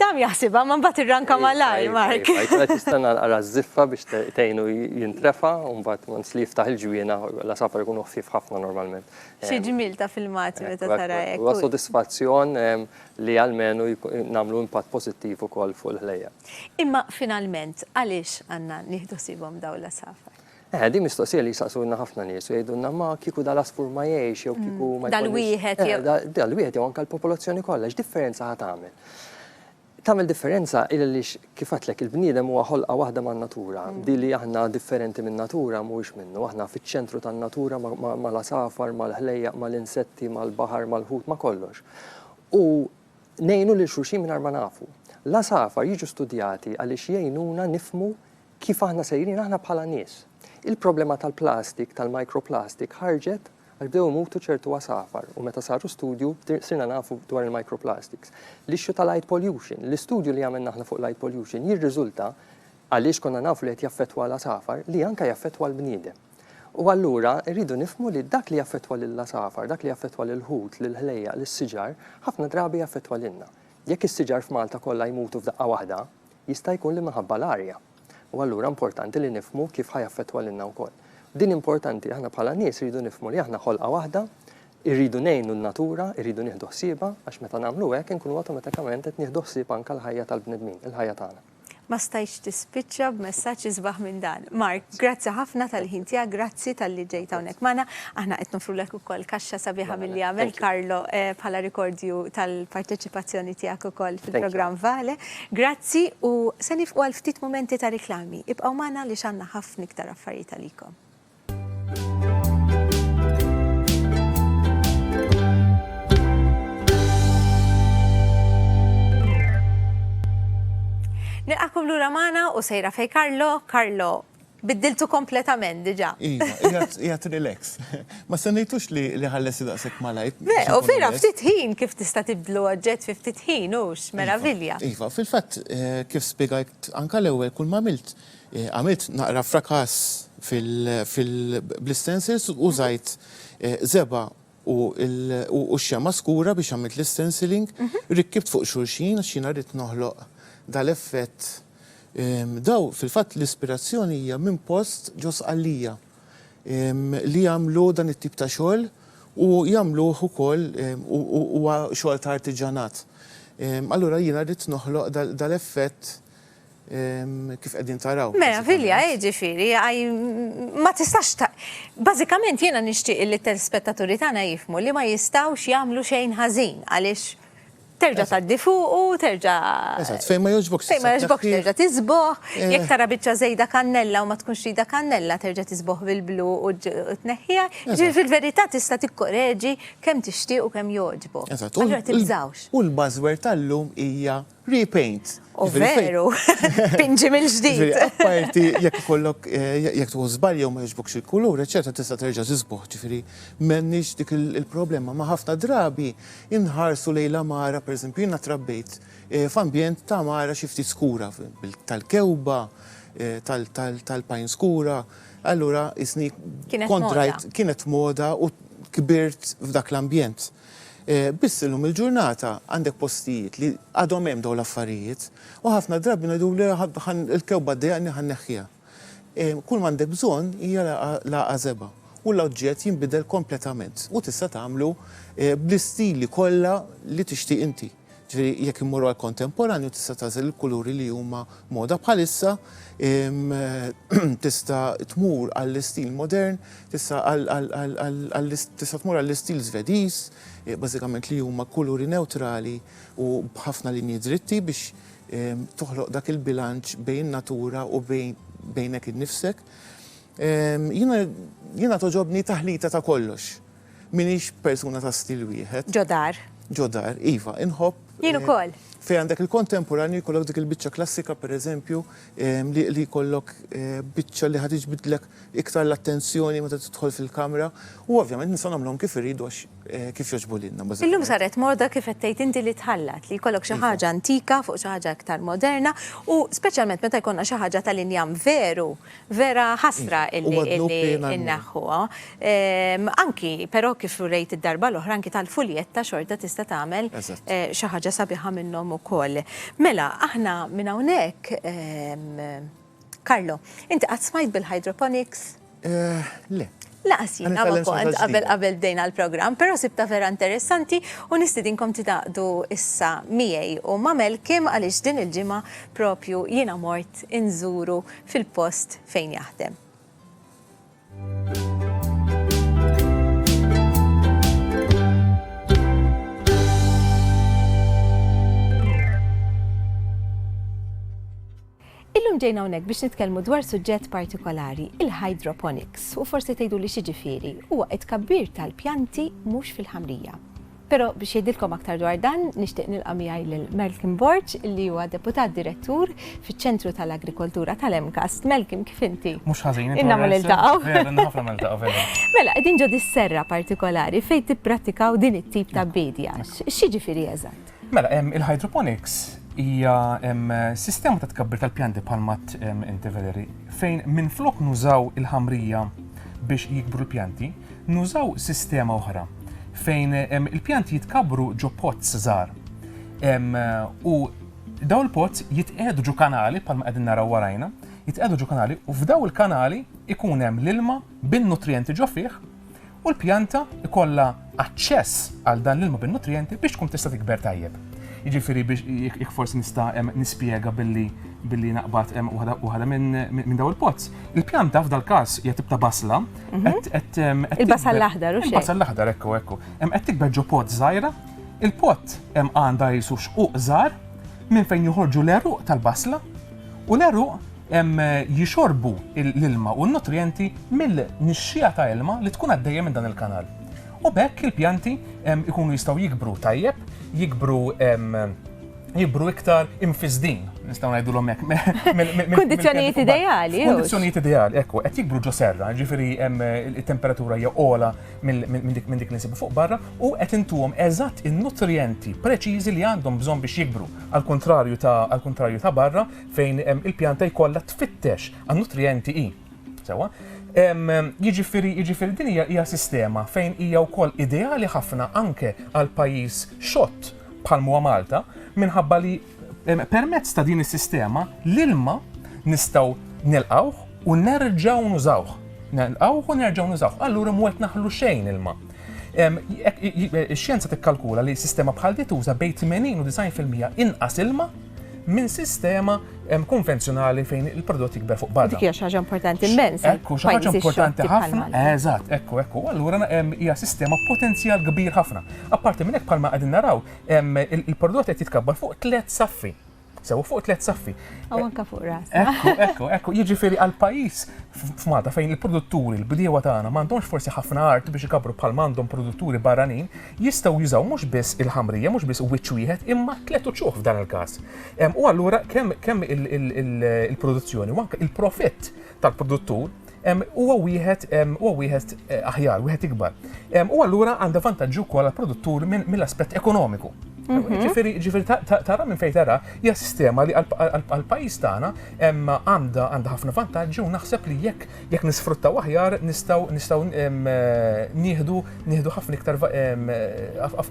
Tam jaħsibha ma mbagħad irranka malajr, Mark. Għajt tista' nara
żiffa biex tgħinu jintrefa u mbagħad once li jiftaħ il-ġwiena la safar ikunu ħfief ħafna normalment. Xi ġmiel ta'
filmati meta tara hekk. Huwa sodisfazzjon
li almenu nagħmlu impatt pożittiv ukoll fuq il-ħlejjaq. Imma finalment
għaliex għandna nieħdu ħsiebhom dawn l-għasafar? Eh, din mistoqsija
li jsaqsulna ħafna nies u jgħidulna ma kieku dal-għasfur ma jgħix jew kieku ma Dal-wieħed
eh, jew. Dal-wieħed jew anke
l-popolazzjoni kollha x'differenza ħa tagħmel? Tagħmel differenza il Kif għedtlek, il-bniedem huwa ħolqa waħda man-natura. Di li aħna differenti min-natura mhuwiex minnu. Aħna fiċ-ċentru tan-natura mal-għasafar, mal-ħlejjaq, mal-insetti, mal-baħar, mal-ħut, ma' kollox. U ngħinu lil xulxin mingħajr ma nafu. L-għasafar jiġu studjati għaliex jgħinuna nifhmu kif aħna sejrin aħna bħala nies. Il-problema tal-plastik, tal-microplastic, ħarġet Għax bdew imutu ċertu għasafar u meta saru studju sirna nafu dwar il-microplastics. L-issue ta' light pollution, l-istudju li għamilna aħna fuq light pollution jirriżulta, għaliex konna nafu li qed jaffettwa l-għasafar, li anke jaffettwa l-bniedem. U allura rridu nifhmu li dak li jaffettwa lill-għasafar, dak li jaffettwa lill-ħut, lill-ħlejjaq, lis-siġar, ħafna drabi jaffettwa lilna. Jekk is-siġar f'Malta kollha jmutu f'daqqa waħda, Jista' jkun li minħabba l-arja. U allura importanti li nifhmu kif ħa jaffettwa lilna wkoll. Din importanti, aħna bħala nies irridu nifhmu li aħna ħolqa waħda, irridu ngħinu n-natura, irridu nieħdu ħsiebha, għax meta nagħmlu hekk inkunu awtomatikament qed nieħdu ħsieb anke l-ħajja tal-bnedmin, il-ħajja tagħna. Ma stajtx
tispiċċa b'messaġġ isbaħ minn dan. Mark, grazzi ħafna tal-ħin tiegħek, grazzi tal-li ġejt hawnhekk magħna. Aħna qed nofrulek ukoll kaxxa sabiħa milli għamel Karlo eh, bħala rikordju tal-parteċipazzjoni tiegħek ukoll fil-programm Vale. Grazzi u se niefqu għal ftit mumenti ta' riklami. Ibqgħu magħna għaliex għandna ħafna iktar affarijiet għalikom. Nilqagħkom lura magħna u sejra fejn Carlo. Carlo, Biddiltu kompletament diġa. Iva, jgħat
relax. Ma sennejtux li ħallesi daqsek malajt. Le, u vera ftit
ħin kif tista' tibdlu oġġett fi ftit ħin hux, iva, meravilja. Iva, fil-fatt
eh, kif spjegajt anka l-ewwel kull ma għamilt, eh, għamilt naqra frakas fil-blistensils u żajt eh, zeba u u x-xemgħa skura biex għamilt l-istenciling, rikkibt fuq xulxin għax jiena ridt noħloq dal-effett. Daw fil-fatt l-ispirazzjoni hija minn post ġo Sqallija li jagħmlu dan it-tip ta' xogħol u jagħmluh ukoll u huwa xogħol ta' artiġanat. Allura jiena ridt noħloq dal-effett kif qegħdin taraw. Meravilja, eh, ġifieri,
ma tistax ta' bażikament jiena nixtieq li telspettaturi tagħna jifmu li ma jistgħux jagħmlu xejn ħażin għaliex terġa' tgħaddi fuq u terġa' Eżatt, fejn ma jogħġbok fejn
ma jogħġbok terġa' tiżboh,
eh. jekk tara biċċa żejda kannella u ma tkunx rida kannella terġa' tiżboh bil-blu u tneħħiha, ġifieri fil-verità tista' tikkoreġi kemm tixtieq u kemm jogħġbok. Eżatt, u l-bażwer tal-lum
hija Repaint. U veru,
pinġi mill-ġdid. Apparti jekk
ikollok jekk tuħu żball jew ma jogħġbokx il-kulur, eċċetera, tista' terġa' tiżbugħ, ġifieri m'għandniex dik il-problema. Ma ħafna drabi inħarsu lejn l-għamara, pereżempju jiena trabbejt f'ambjent ta' għamara xi ftit skura, tal-kewba, tal-pajn skura, allura qisni kont rajt kienet moda u kbirt f'dak l-ambjent. Biss illum il-ġurnata għandek postijiet li għadhom hemm dawn l-affarijiet u ħafna drabi ngħiduli l-kewba ddejjaqni ħa nneħħiha. Kull m'għandek bżonn hija l-għażeba u l-oġġett jinbidel kompletament u tista' tagħmlu bl-istili kollha li tixtieq inti. Ġifieri jekk immorru għall-kontemporanju tista' tagħżel il-kuluri li huma moda bħalissa, tista' tmur għall-istil modern, tista' għal tista' tmur għall-istil Żvediż, bażikament li huma kuluri newtrali u b'ħafna linji dritti biex toħloq dak il-bilanċ bejn in-natura u bejn bejnek innifsek. Jiena jiena togħġobni taħlita ta' kollox. M'iniex persuna ta' stil wieħed. Ġo dar. Ġo dar, iva, inħobb. Jien ukoll.
Fejn għandek il-kontemporanju
jkollok dik il-biċċa klassika pereżempju li jkollok biċċa li ħad iġbidlek iktar l-attenzjoni meta tidħol fil-kamra u ovvjament nistgħu nagħmluhom kif iridu għax kif jogħġbu lilna. Illum saret moda
kif qed tgħid inti li tħallat li jkollok xi ħaġa antika fuq xi ħaġa iktar moderna u speċjalment meta jkollna xi ħaġa tal-injam veru Vera ħasra illi inneħħuha. Ehm, anki, però kif rejt id-darba l-oħra, anki tal-fuljetta xorta tista' tagħmel eh, xi ħaġa sabiħa minnhom ukoll. Mela, aħna minn hawnhekk, ehm, Karlo, inti qatt smajt bil-hydroponics? Eh,
le. Lanqas jiena
ma kont qabel qabel bdejna l-programm, però sibtha vera interessanti u nistidinkom tingħaqdu issa miegħi u ma' Malcolm għaliex din il-ġimgħa proprju jiena mort inżuru fil-post fejn jaħdem. Illum ġejna hawnhekk biex nitkellmu dwar suġġett partikolari, il-hydroponics, u forsi tgħiduli x'jiġifieri. Huwa t-tkabbir tal-pjanti mhux fil-ħamrija. Però biex jgħidilkom aktar dwar dan, nixtieq nilqa' miegħi lil Malcolm Borg li huwa Deputat Direttur fiċ-Ċentru tal-Agrikoltura tal-MCAST. Malcolm, kif inti? Mhux ħażin, intom. Ilna ma niltaqgħu. Vera, ilna
ħafna ma niltaqgħu,
vera.
Mela, qegħdin ġo
dis-serra partikolari fejn tippratikaw din it-tip ta' biedja. X'jiġifieri eżatt? Mela, il-hydroponics
hija sistema ta' tkabbir tal-pjanti bħal mat inti Valeri, fejn minflok nużaw il-ħamrija biex jikbru l-pjanti, nużaw sistema oħra fejn il-pjanti jitkabru ġo pots żgħar. U daw il-pots jitqiegħdu ġo kanali bħal ma qegħdin naraw warajna, jitqiegħdu ġo kanali u f'daw il-kanali ikun hemm l-ilma bin-nutrienti ġo fih u l-pjanta jkollha aċċess għal dan l-ilma bin-nutrijenti biex tkun tista' tikber tajjeb. Jiġifieri biex jekk forsi nista' nispjega billi billi naqbad waħda minn daw il-pozz. Il-pjanta f'dal każ hija tibta basla. Mhm.
Il-basal l-aħdar u xejn. Il-basal l-aħdar ekku ekku.
Hemm qed tikber ġo pot żgħira. Il-pot hemm għandha jisu xquq żgħar minn fejn joħorġu l-eruq tal-basla u l-eruq jixorbu l-ilma u n-nutrijenti mill-nixxiegħa ta' ilma li tkun għaddejja minn dan il-kanal. U b'hekk il-pjanti jkunu jistgħu jikbru tajjeb, jikbru jikbru iktar imfisdin, nistgħu ngħidulhom hekk. Kundizzjonijiet
ideali. Kundizzjonijiet ideali, ekku, qed
jikbru ġo serra, ġifieri hemm it-temperatura hija ogħla minn dik li nsibu fuq barra u qed intuhom eżatt in-nutrijenti preċiżi li għandhom bżonn biex jikbru. Għall-kuntrarju ta' barra, fejn il-pjanta jkollha tfittex għan nutrijenti hi. Sewa? Jiġifieri, jiġifieri din hija hija sistema fejn hija wkoll ideali ħafna anke għal pajjiż xott bħal huwa Malta minħabba li permezz ta' din is-sistema l-ilma nistgħu nilqawh u nerġgħu nużawh. Nelqawh u nerġgħu nużawh. Allura mwet naħlu xejn ilma. Ix-xjenza tikkalkula li sistema bħal di tuża bejn 80 u 90 fil-mija inqas ilma minn sistema konvenzjonali fejn il-prodott jikber fuq barra. Dik hija xi ħaġa importanti
immens. Ekku, xi ħaġa importanti
ħafna. Eżatt, ekku, ekku. Allura hija sistema potenzjal kbir ħafna. Apparti minn hekk bħalma qegħdin naraw, il-prodott qed jitkabbar fuq tliet saffi. Sew fuq tliet saffi. U anke fuq ras.
Ekku, ekku, ekku,
jiġifieri għal pajjiż f'Malta fejn il-produtturi, l-bdiewa tagħna m'għandhomx forsi ħafna art biex ikabru bħal m'għandhom produtturi barranin, jistgħu jużaw mhux biss il-ħamrija, mhux biss wiċċ wieħed, imma tliet uċuħ f'dan il-każ. U allura kemm il-produzzjoni u anke il-profitt tal-produttur huwa wieħed huwa wieħed eh, aħjar, wieħed ikbar. U allura għandha vantaġġi wkoll għall-produttur mill-aspett ekonomiku. Mhm. Ġifiri, ġifiri, tara minn fejn tara, hija sistema li għal-pajis tagħna għandha għandha ħafna vantaġġi u naħseb li jekk jekk nisfruttaw aħjar nistgħu nistgħu nieħdu nieħdu ħafna iktar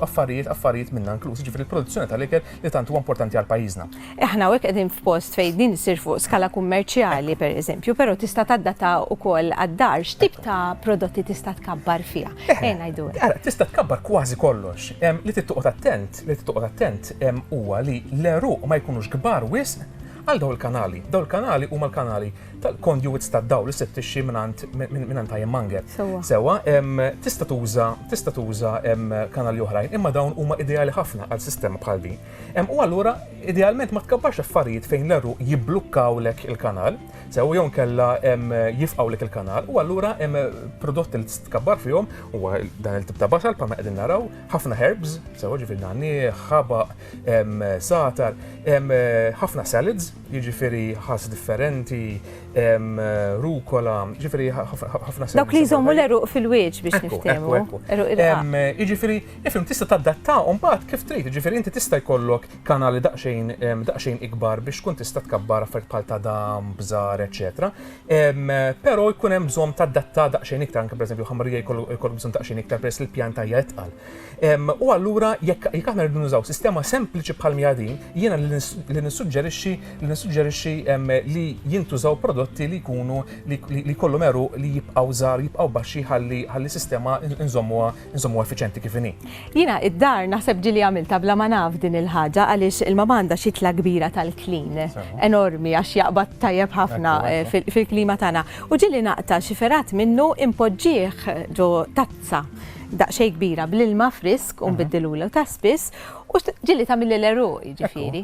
affarijiet affarijiet minna inkluż, ġifiri l-produzzjoni tal-ikel li tant huwa importanti għal pajjiżna. Aħna hawnhekk qegħdin
f'post fejn din issir fuq skala kummerċjali pereżempju, però tista' tadattha wkoll għad-dar. X'tip ta' prodotti tista' tkabbar fiha? Għin għidu hekk. Ara, tista' tkabbar
kważi kollox. Li trid toqgħod attent, li trid toqgħod attent huwa li l-għeruq ma jkunux kbar wisq għal dawn il-kanali. Dawn il-kanali huma l-kanali tal-conduits tad-dawl li ssib tixxi mingħand mingħand ironmonger. Sewwa. Sewwa, tista' tuża tista' tuża kanali oħrajn, imma dawn huma ideali ħafna għal sistema bħal din. U allura, idealment ma tkabbarx affarijiet fejn l-għeruq jibblukkawlek il-kanal, sew jew inkella jifqgħulek il-kanal, u allura hemm prodotti li tista' tkabbar fihom, huwa dan il-tip ta' basal bħalma qegħdin naraw, ħafna herbs, sew jiġifieri nagħniegħ, ħabaq, sagħtar, ħafna salads, jiġifieri ħass differenti, rukola, jiġifieri ħafna salads. Dawk li jżommu l-għeruq
fil-wieġ biex niftehmu. Ekku, ekku, ekku.
Jiġifieri Ifhem, tista' tadattahom mbagħad kif trid, jiġifieri inti tista' jkollok kanali daqsxejn daqsxejn ikbar biex tkun tista' tkabbar affarijiet bħal tadam, bżar, eċċetera. Però jkun hemm bżonn tadatta daqsxejn iktar, anke pereżempju ħamrija jkollok bżonn daqsxejn iktar peress li l-pjanta hija itqal. U allura jekk jekk aħna rridu nużaw sistema sempliċi bħal miha din, jiena li nissuġġerixxi li nissuġġerixxi li jintużaw prodotti li jkunu li jkollhom għeruq li jibqgħu żgħar, jibqgħu baxxi ħalli ħalli sistema nżommuha nżommu effiċenti kif inhi. Jiena id-dar
naħseb ġili għamilta bla ma naf din il-ħaġa għaliex il-mama għandha xitla kbira tal-klin enormi għax jaqbad tajjeb ħafna eh, fil-klima tagħna. U ġili naqta' xi ferat minnu impoġġih ġo tazza daqxej kbira bl-ilma frisk un biddilulu ta' spiss u ġilli ta' mill-leru ġifiri.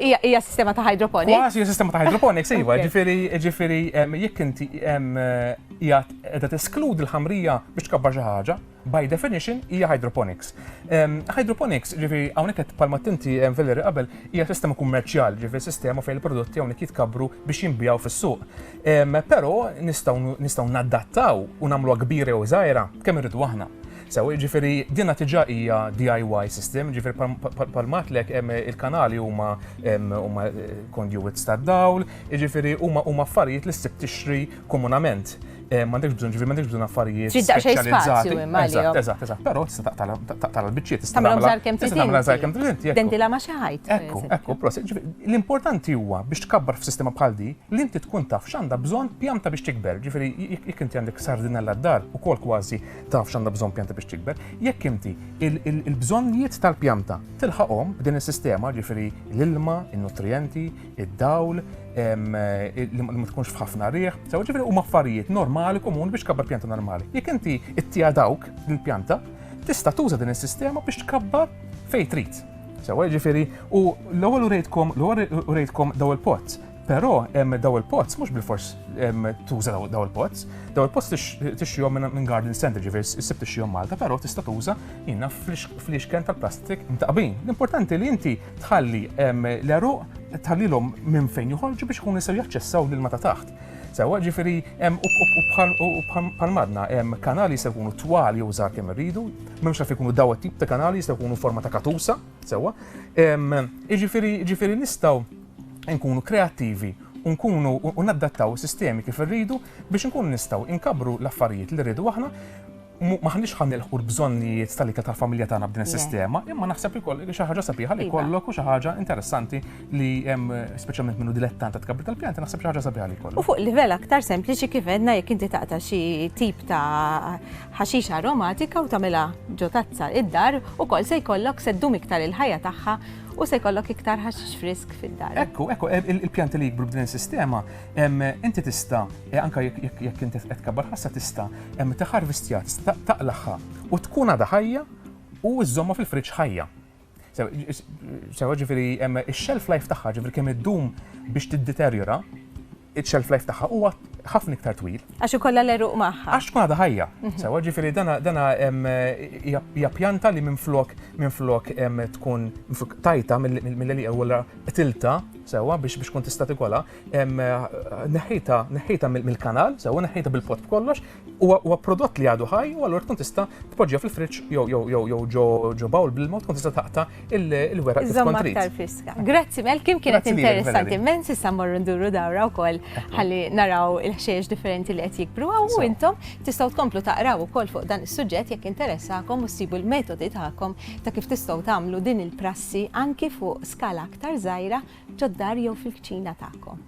Ija sistema ta' hydroponics. Għas, ija sistema ta' hydroponics,
iva, ġifiri, ġifiri, jek inti jgħat qiegħda teskludi l-ħamrija biex tkabbar xi ħaġa, by definition hija hydroponics. Ehm, hydroponics, ġifieri hawnhekk qed palma tinti ehm, Valeri qabel, hija sistema kummerċjal, ġifieri sistema fejn il-prodotti hawnhekk jitkabru biex jinbijaw fis-suq. Ehm, però nistgħu nadattaw u nagħmluha kbira jew żgħira kemm irridu aħna. Sew, ġifiri, dinna tiġa hija DIY system, ġifiri palmatlek il-kanali huma eh, conduits ta' dawl, ġifiri huma huma affarijiet li ssib tixri komunament eh, m'għandekx bżonn ġifieri m'għandekx bżonn affarijiet Trid daqsxejn speċjalizzati. spazju imma Eżatt, għalihom. eżatt, eżatt. Però tista' taqtala taqtala l-biċċiet, tista' Tagħmilhom tagħmilha- żgħar kemm tista' tagħmilha
żgħar kemm trid inti, ecco. Dendila ma' xi
ħajt. per
Ekku, eżempju. ekku, prosit.
Ġifieri, L-importanti huwa biex tkabbar f'sistema bħal di li inti tkun taf x'għandha bżonn pjanta biex tikber. Ġifieri, jekk jekk inti għandek sardinella d-dar, ukoll kważi taf x'għandha bżonn pjanta biex tikber. Jekk inti il- il- il-bżonnijiet tal-pjanta tilħaqhom b'din is-sistema, ġifieri l-ilma, in-nutrijenti, id-dawl, li ma tkunx f'ħafna riħ, sew ġifieri huma affarijiet normali komuni biex kabbar pjanta normali. Jekk inti ittija dawk il-pjanta, tista' tuża din is-sistema biex tkabbar fejn trid. Sewa ġifieri u l-ewwel urejtkom l-ewwel urejtkom daw il-pots Però hemm daw il-pots, mhux bil-fors tuża daw il-pots, daw il-pots tixjom minn garden center ġifier issib tixjom Malta, però tista' tuża jiena fl-ixken tal-plastik mtaqbin. L-importanti li inti tħalli l-għeruq tħallilhom minn fejn joħorġu biex ikunu jistgħu jaċċessaw l-ilma ta' taħt. Sewa ġifiri, u bħal madna, kanali se jkunu twal jew żgħar kemm irridu, m'hemmx naf ikunu daw tip ta' kanali se jkunu forma ta' katusa, sewa. Ġifiri, ġifiri nistgħu nkunu kreattivi u nkunu u naddattaw sistemi kif irridu biex nkunu nistgħu inkabru l-affarijiet li rridu aħna M'aħniex ħa nilħqu l-bżonnijiet tal-ikel tal-familja tagħna b'din is-sistema, imma naħseb li xi ħaġa sabiħa li jkollok u xi ħaġa interessanti li hemm speċjalment minnu dilettant ta' tkabbir tal-pjanti, naħseb xi ħaġa sabiħa li jkollok. U fuq livell aktar sempliċi
kif għedna jekk inti taqta' xi tip ta' ħaxixa aromatika u tagħmilha ġo tazza id-dar ukoll se jkollok se ddum iktar il-ħajja tagħha u se jkollok iktar ħaxix frisk fid-dar. Ekku, ekku,
il-pjanti li jikbru b'din is-sistema, inti tista' Anke jekk inti qed tkabbar ħassa tista' hemm meta ħarvistjat tista' taqlagħha u tkun għadha ħajja u żżommha fil-friġġ ħajja. Sewa ġifieri hemm ix-shelf life tagħha ġifieri kemm iddum biex tiddeterjora, iċ-shelf life tagħha huwa ħafna iktar twil. Għax ikollha l-eruq
magħha. Għax tkun għadha ħajja. Mhm.
Sewa ġifieri dana hija pjanta li minflok minflok tkun tajta mill-li ewwel qtilta sewa biex tkun tista' tikolha, neħħita neħħita mill-kanal, sewa neħħita bil-pot b'kollox, huwa prodott li għadu ħaj u allura tkun tista' tpoġġiha fil-friġġ jew jew jew jew ġo ġo bawl bil-mod tkun tista' taqta' il-weraq kif kont trid. friska. Grazzi mel
kim kienet interessanti immens issa mmorru nduru dawra wkoll ħalli naraw il-ħxejjex differenti li qed jikbru u intom tistgħu tkomplu taqraw ukoll fuq dan is-suġġett jekk interessakom u ssibu l-metodi tagħkom ta' kif tistgħu tagħmlu din il-prassi anki fuq skala aktar żgħira ġod-dar jew fil-kċina tagħkom.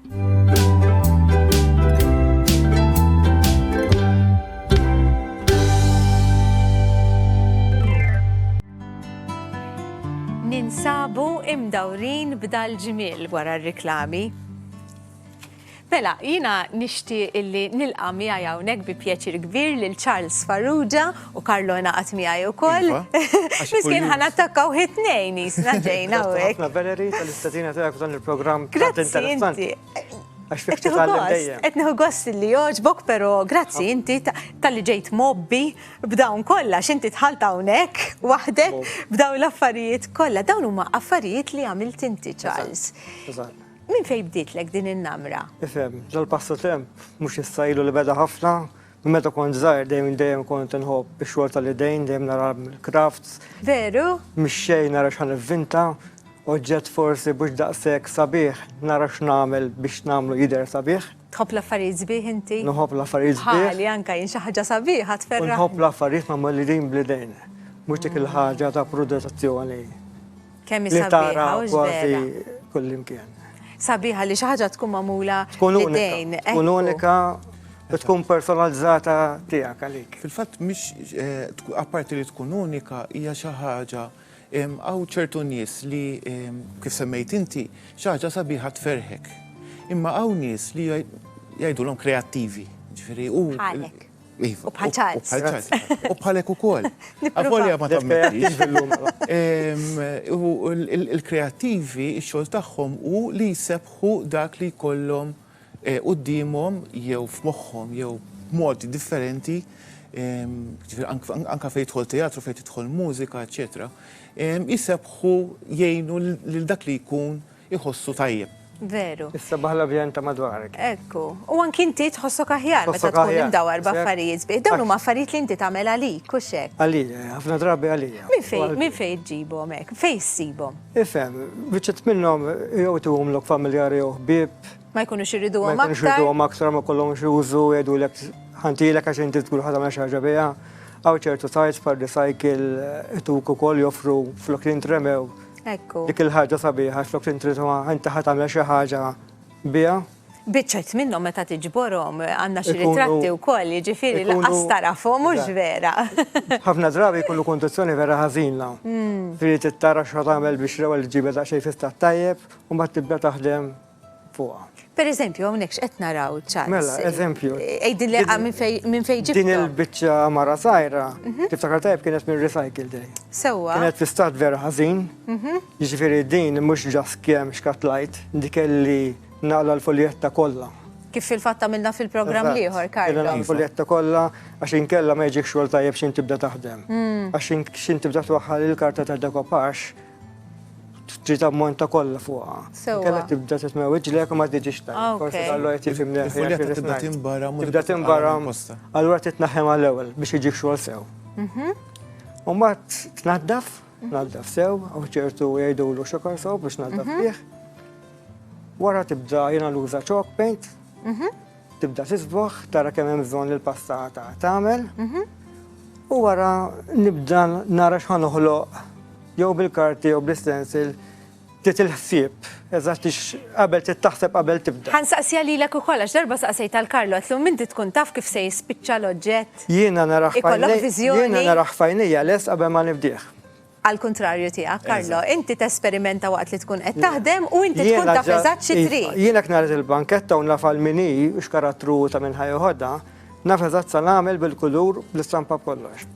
Ninsabu imdawrin b'dal-ġmiel wara r-riklami. Mela, jiena nixtieq illi nilqa' miegħi hawnhekk bi pjaċir kbir lil Charles Farrugia u Carlo ingħaqad miegħi wkoll. Miskien ħa nattakkaw hi t-tnejn qisna ġejna hawnhekk. Grazzi ħafna Valerie tal-istedina
tiegħek f'dan il-programm tant interessanti. Grazzi
inti. Għax fik titgħallem
dejjem. Qed nieħu gost li
jogħġbok, però grazzi inti talli ġejt mgħobbi b'dawn kollha x'inti dħalt hawnhekk waħdek b'dawn l-affarijiet kollha. Dawn huma affarijiet li għamilt inti Charles. Eżatt. Minn fejn bdietlek din in-namra? Ifhem, dal-passatemp
mhux issa ilu li beda ħafna, minn meta kont żgħir dejjem dejjem kont inħobb ix-xogħol tal-idejn, dejjem nara l-crafts. Veru?
Mix-xejn nara x'ħa
nivvinta, oġġett forsi mhux daqshekk sabiħ nara x'nagħmel biex nagħmlu jidher sabiħ. Tħobb l-affarijiet sbieħ
inti? Nħobb l-affarijiet sbieħ.
Bħali anke jien xi ħaġa
sabiħa tferraħni. U nħobb l-affarijiet
magħmulin bl-idejn, mhux dik il-ħaġa ta' prodotazzjoni. Kemm hi
sabiħa. Li tara
kważi kullimkien. Sabiħa li
xi ħaġa tkun magħmula b'idejn.
Tkun unika u tkun personalizzata tiegħek għalik. Fil-fatt mhix
eh, apparti li tkun unika hija xi ħaġa għaw ċertu nies li kif semmejt inti xi ħaġa sabiħa tferħek. Imma hawn nies li jgħidulhom kreattivi. Ġifieri u
U bħal
Charles. U bħal
Charles. U bħalek
ukoll. Avolja ma tammettix. Il-kreattivi, ix-xogħol tagħhom hu li jsebħu dak li jkollhom quddiemhom jew f'moħħhom jew b'mod differenti anke fejn jidħol teatru, fejn tidħol mużika, eċċetera, jsebħu jgħinu lil dak li jkun iħossu tajjeb. Veru. Is-sabaħ
l-avjant ta'
madwarek. Ekku. U anki
inti tħossok aħjar meta Tħossok tkun aħjar, imdawar sepp. b'affarijiet sbieħ. Dawn huma affarijiet li inti tagħmel għalik, hux hekk? Għalija, ħafna drabi
għalija. Minn fejn, minn fejn iġġibhom
hekk? Fejn issibhom? Ifhem,
biċċiet minnhom jew tuhomlok familjari jew ħbieb, Ma jkunux ma iriduhom
jkunux aktar? irduhom aktar
ma kollhomx użu, jgħidulek ħantilek għax inti tkun ħadam xi ħaġa biha. Hawn ċertu sajts bħal recycle ituk ukoll joffru flok li ntremew Ekku. Dik il-ħaġa
sabiħa
xlok tintritwa inti ħat għamel xi ħaġa biha. Biċċet
minnhom meta tiġborhom għandna xi ritratti wkoll, jiġifieri laqas tarafhom mhux vera. Ħafna drabi
jkunu kondizzjoni vera ħażina. Hmm. Trid tara x'ħa tagħmel biex l-ewwel ġibed xejn fista tajjeb u mbagħad tibda taħdem fuqha. Per eżempju,
hawnhekk x'qed naraw Charles? Mela, eżempju.
Għidilli ah, minn
fejn minn fejn ġibthom. Din il-biċċa mara
sajra, mhm. tiftakar tajb kienet minn Recycle Day. Sewwa. Kienet fi stat
vera
ħażin. Mhm. Jiġifieri din mhux ġas kemm xkatlajt, dik li naqla l-foljetta kollha. Kif fil-fatt għamilna
fil-programm liħor, Karl. Għamilna iva. l-foljetta kollha
għax inkella ma jiġik xogħol tajjeb x'in tibda taħdem. Mm. Għax x'in tibda twaħħal il-karta ta' dekopax Trid ammonta kollha fuqha. Sewwa. Kellha tibda tisma' wiġlek u ma tiġix ta'. Ah, ok. Forsi dallu qed jifhimni aħjar. Il-folja kif tibda ngħid. tinbara
mhux Tibda tibqa' tinbara. għal
posta. Allura trid tnaħħem għall-ewwel biex iġib xogħol sew. U mbagħad tnaddaf, tnaddaf sew, u ċertu jgħidulu xokor sew biex tnaddaf fih. Wara tibda jiena nuża chalk paint. Tibda tisboħ, tara kemm hemm bżonn il-pasta tagħmel. Mhm. U wara nibda nara x'ħan uħloq jew bil-karti jew bl-istensil tit il-ħsieb, eżatt qabel tittaħseb qabel tibda. Ħan saqsija li l-ek ukoll,
għax darba saqsej tal-Karlo, għatlu minti tkun taf kif se jispiċċa l-oġġett. Jiena naraħ
fajnija. Jiena
naraħ fajnija,
les qabel ma nibdieħ. Għall-kuntrarju
tiegħek, Carlo, inti tesperimenta waqt li tkun qed taħdem u inti tkun taf eżatt xi trid. Jiena jekk nara il-banketta
u naf għal min hi u x'karattru hu ta' min ħa jeħodha, naf eżatt sa nagħmel bil-kulur, bl-istampa b'kollox.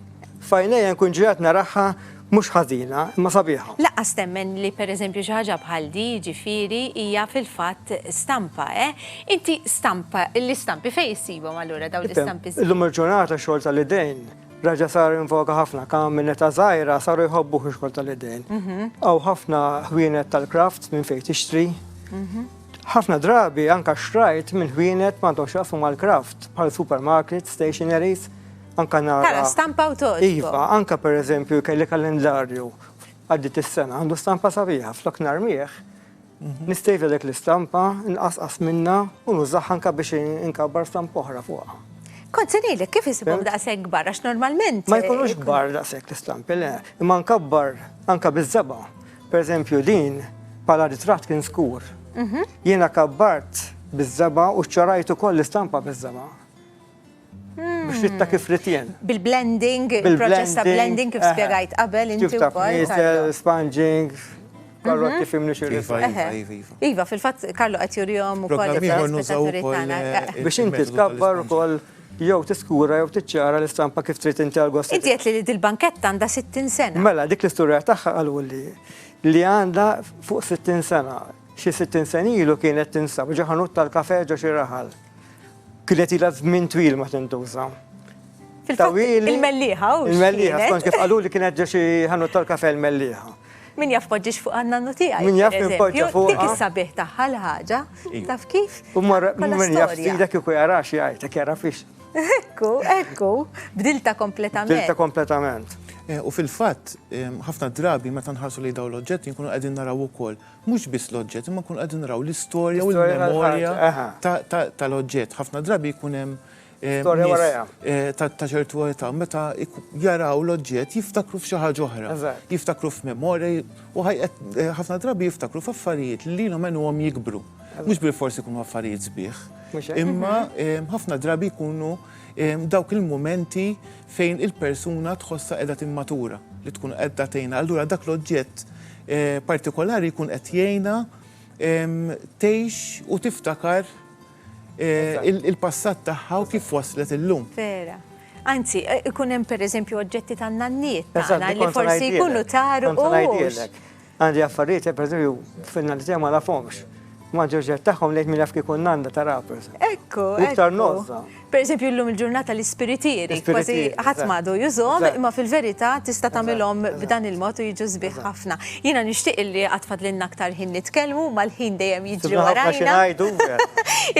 F'għajnejja nkun ġiegħed naraha mhux ħażina, imma sabiħa. Lanqas temmen li
pereżempju xi ħaġa bħal di, jiġifieri, hija fil-fatt stampa, eh? Inti stampa, l-istampi fejn issibhom allura dawn l-istampi? Illum il-ġurnata x-xogħol
tal-idejn. Raġa sar invoka ħafna kam minn eta zaħira saru jħobbu xogħol tal-idejn. Għaw mhm. ħafna ħwienet tal-kraft minn fejn tixtri. Mhm. ħafna drabi anka xrajt minn ħwienet m'għandhom xaqfu mal-kraft bħal supermarket, stationaries, anka nara. Tara stampa u toġbu.
Iva, anka per
eżempju kelli kalendarju għaddit is-sena għandu stampa sabiħa flok narmieħ Nistejt lilek l-istampa, nqasqas minnha u nużaha anke biex inkabbar stampa oħra fuqha. Kont se ngħidlek
kif isibhom daqshekk kbar għax normalment. Ma jkunux kbar
daqshekk l-istampi, le. Imma nkabbar anke biż-żebgħa. Pereżempju din bħala ritratt kien skur. Jiena kabbart biż-żebgħa u ċċorajt ukoll l-istampa biż-żebgħa. Biex fitta kif ritjen. Bil-blending,
il-proċess ta' blending kif spiegajt qabel inti wkoll.
Sponging, Karlo kif imni xi iva, iva, iva. iva,
fil-fatt Karlo qed jurihom ukoll
biex inti tkabbar ukoll jew tiskura jew tiċċara l-istampa kif trid inti għal gost. Inti qed li dil-banketta
għandha 60 sena. Mela, dik l-istorja tagħha
qalu li li għandha fuq 60 sena. Xi 60 senilu kienet tinsab ġo ħanut tal-kafe ġo xi raħal. Kienet ilha żmien twil ma tintuża. Tawili. Il-mellieħa
u. Il-mellieħa, kont kif qalu li
kienet ġew xi ħanut tal-kafe l-mellieħa. Min jaf poġġiex
fuq għanna nutija. Min jaf min poġġa fuq.
Dik is-sabiħ tagħha
l-ħaġa. Taf kif? U marra min
jaf dak iku jara xi jgħid, dak jara fiex. Ekku, ekku,
bdilta kompletament. Bdilta kompletament.
Eh, u fil-fatt,
eh, ħafna drabi meta nħarsu li dawn l-oġġetti nkunu qegħdin naraw ukoll Mhux biss l-oġġett, imma nkunu qegħdin naraw l-istorja u l-memorja tal-oġġett. Ħafna drabi jkun hemm eh, ta' ċertu età meta jaraw l-oġġett jiftakru f'xi ħaġa oħra, jiftakru f'memorja u eh, ħafna drabi jiftakru f'affarijiet li lilhom għenuhom jikbru. Mhux bil forsi jkunu affarijiet sbieħ. Imma eh, ħafna drabi jkunu dawk il-momenti fejn il-persuna tħossha qiegħda timmatura, li tkun qedda tgħinha, allura dak l-oġġett partikolari jkun qed jgħinha tgħix u tiftakar il-passat tagħha u kif waslet illum. Vera.
Anzi, ikun hemm pereżempju oġġetti tan-nanniet tagħna li forsi jkunu taru.
Għandi affarijiet li pereżempju fin-nadi tiegħi ma nafhomx. Ma ġoġġet tagħhom lejt minn jaf kieku nanda ta' rapers. Ekku, iktar nozza.
Per eżempju llum il-ġurnata l-ispiritieri, kważi ħadd m'għadu jużhom, imma fil-verità tista' tagħmilhom b'dan il-mod u jiġu sbieħ ħafna. Jiena nixtieq illi għad fadlilna aktar ħin nitkellmu, imma l-ħin dejjem jiġri warajna.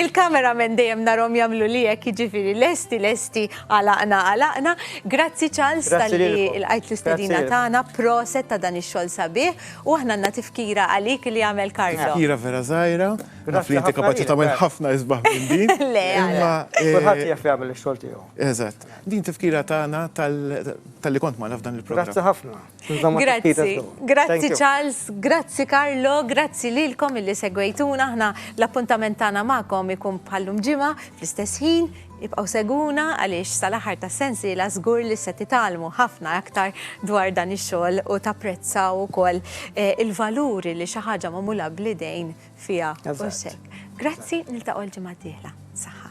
Il-cameramen dejjem narhom jagħmlu li hekk jiġifieri lesti lesti. Għalaqna għalaqna. Grazzi Charles tal-li il-qajt l-istedina tagħna proset ta' dan ix-xogħol sabiħ u aħna għandna tifkira għalik li għamel Karlo. Tifkira vera żgħira,
naf li inti kapaċi tagħmel ħafna isbaħ minn din. Le, imma kulħadd jaf jagħmel ix-xogħol
tiegħu. Eżatt. Din
tifkira tagħna tal-li kont magħna f'dan il-programm. Grazzi ħafna.
Grazzi, grazzi
Charles, grazzi Carlo, grazzi lilkom illi segwejtuna aħna l-appuntament tagħna magħkom ikun bħallum ġimgħa fl-istess ħin ibqgħu segwuna għaliex sal-aħħar tas-sensiela żgur li se titgħallmu ħafna aktar dwar dan ix-xogħol u tapprezzaw ukoll eh, il-valuri li xi ħaġa magħmula bl-idejn fiha. Grazzi, niltaqgħu l-ġimgħa d-dieħla. Saħħa.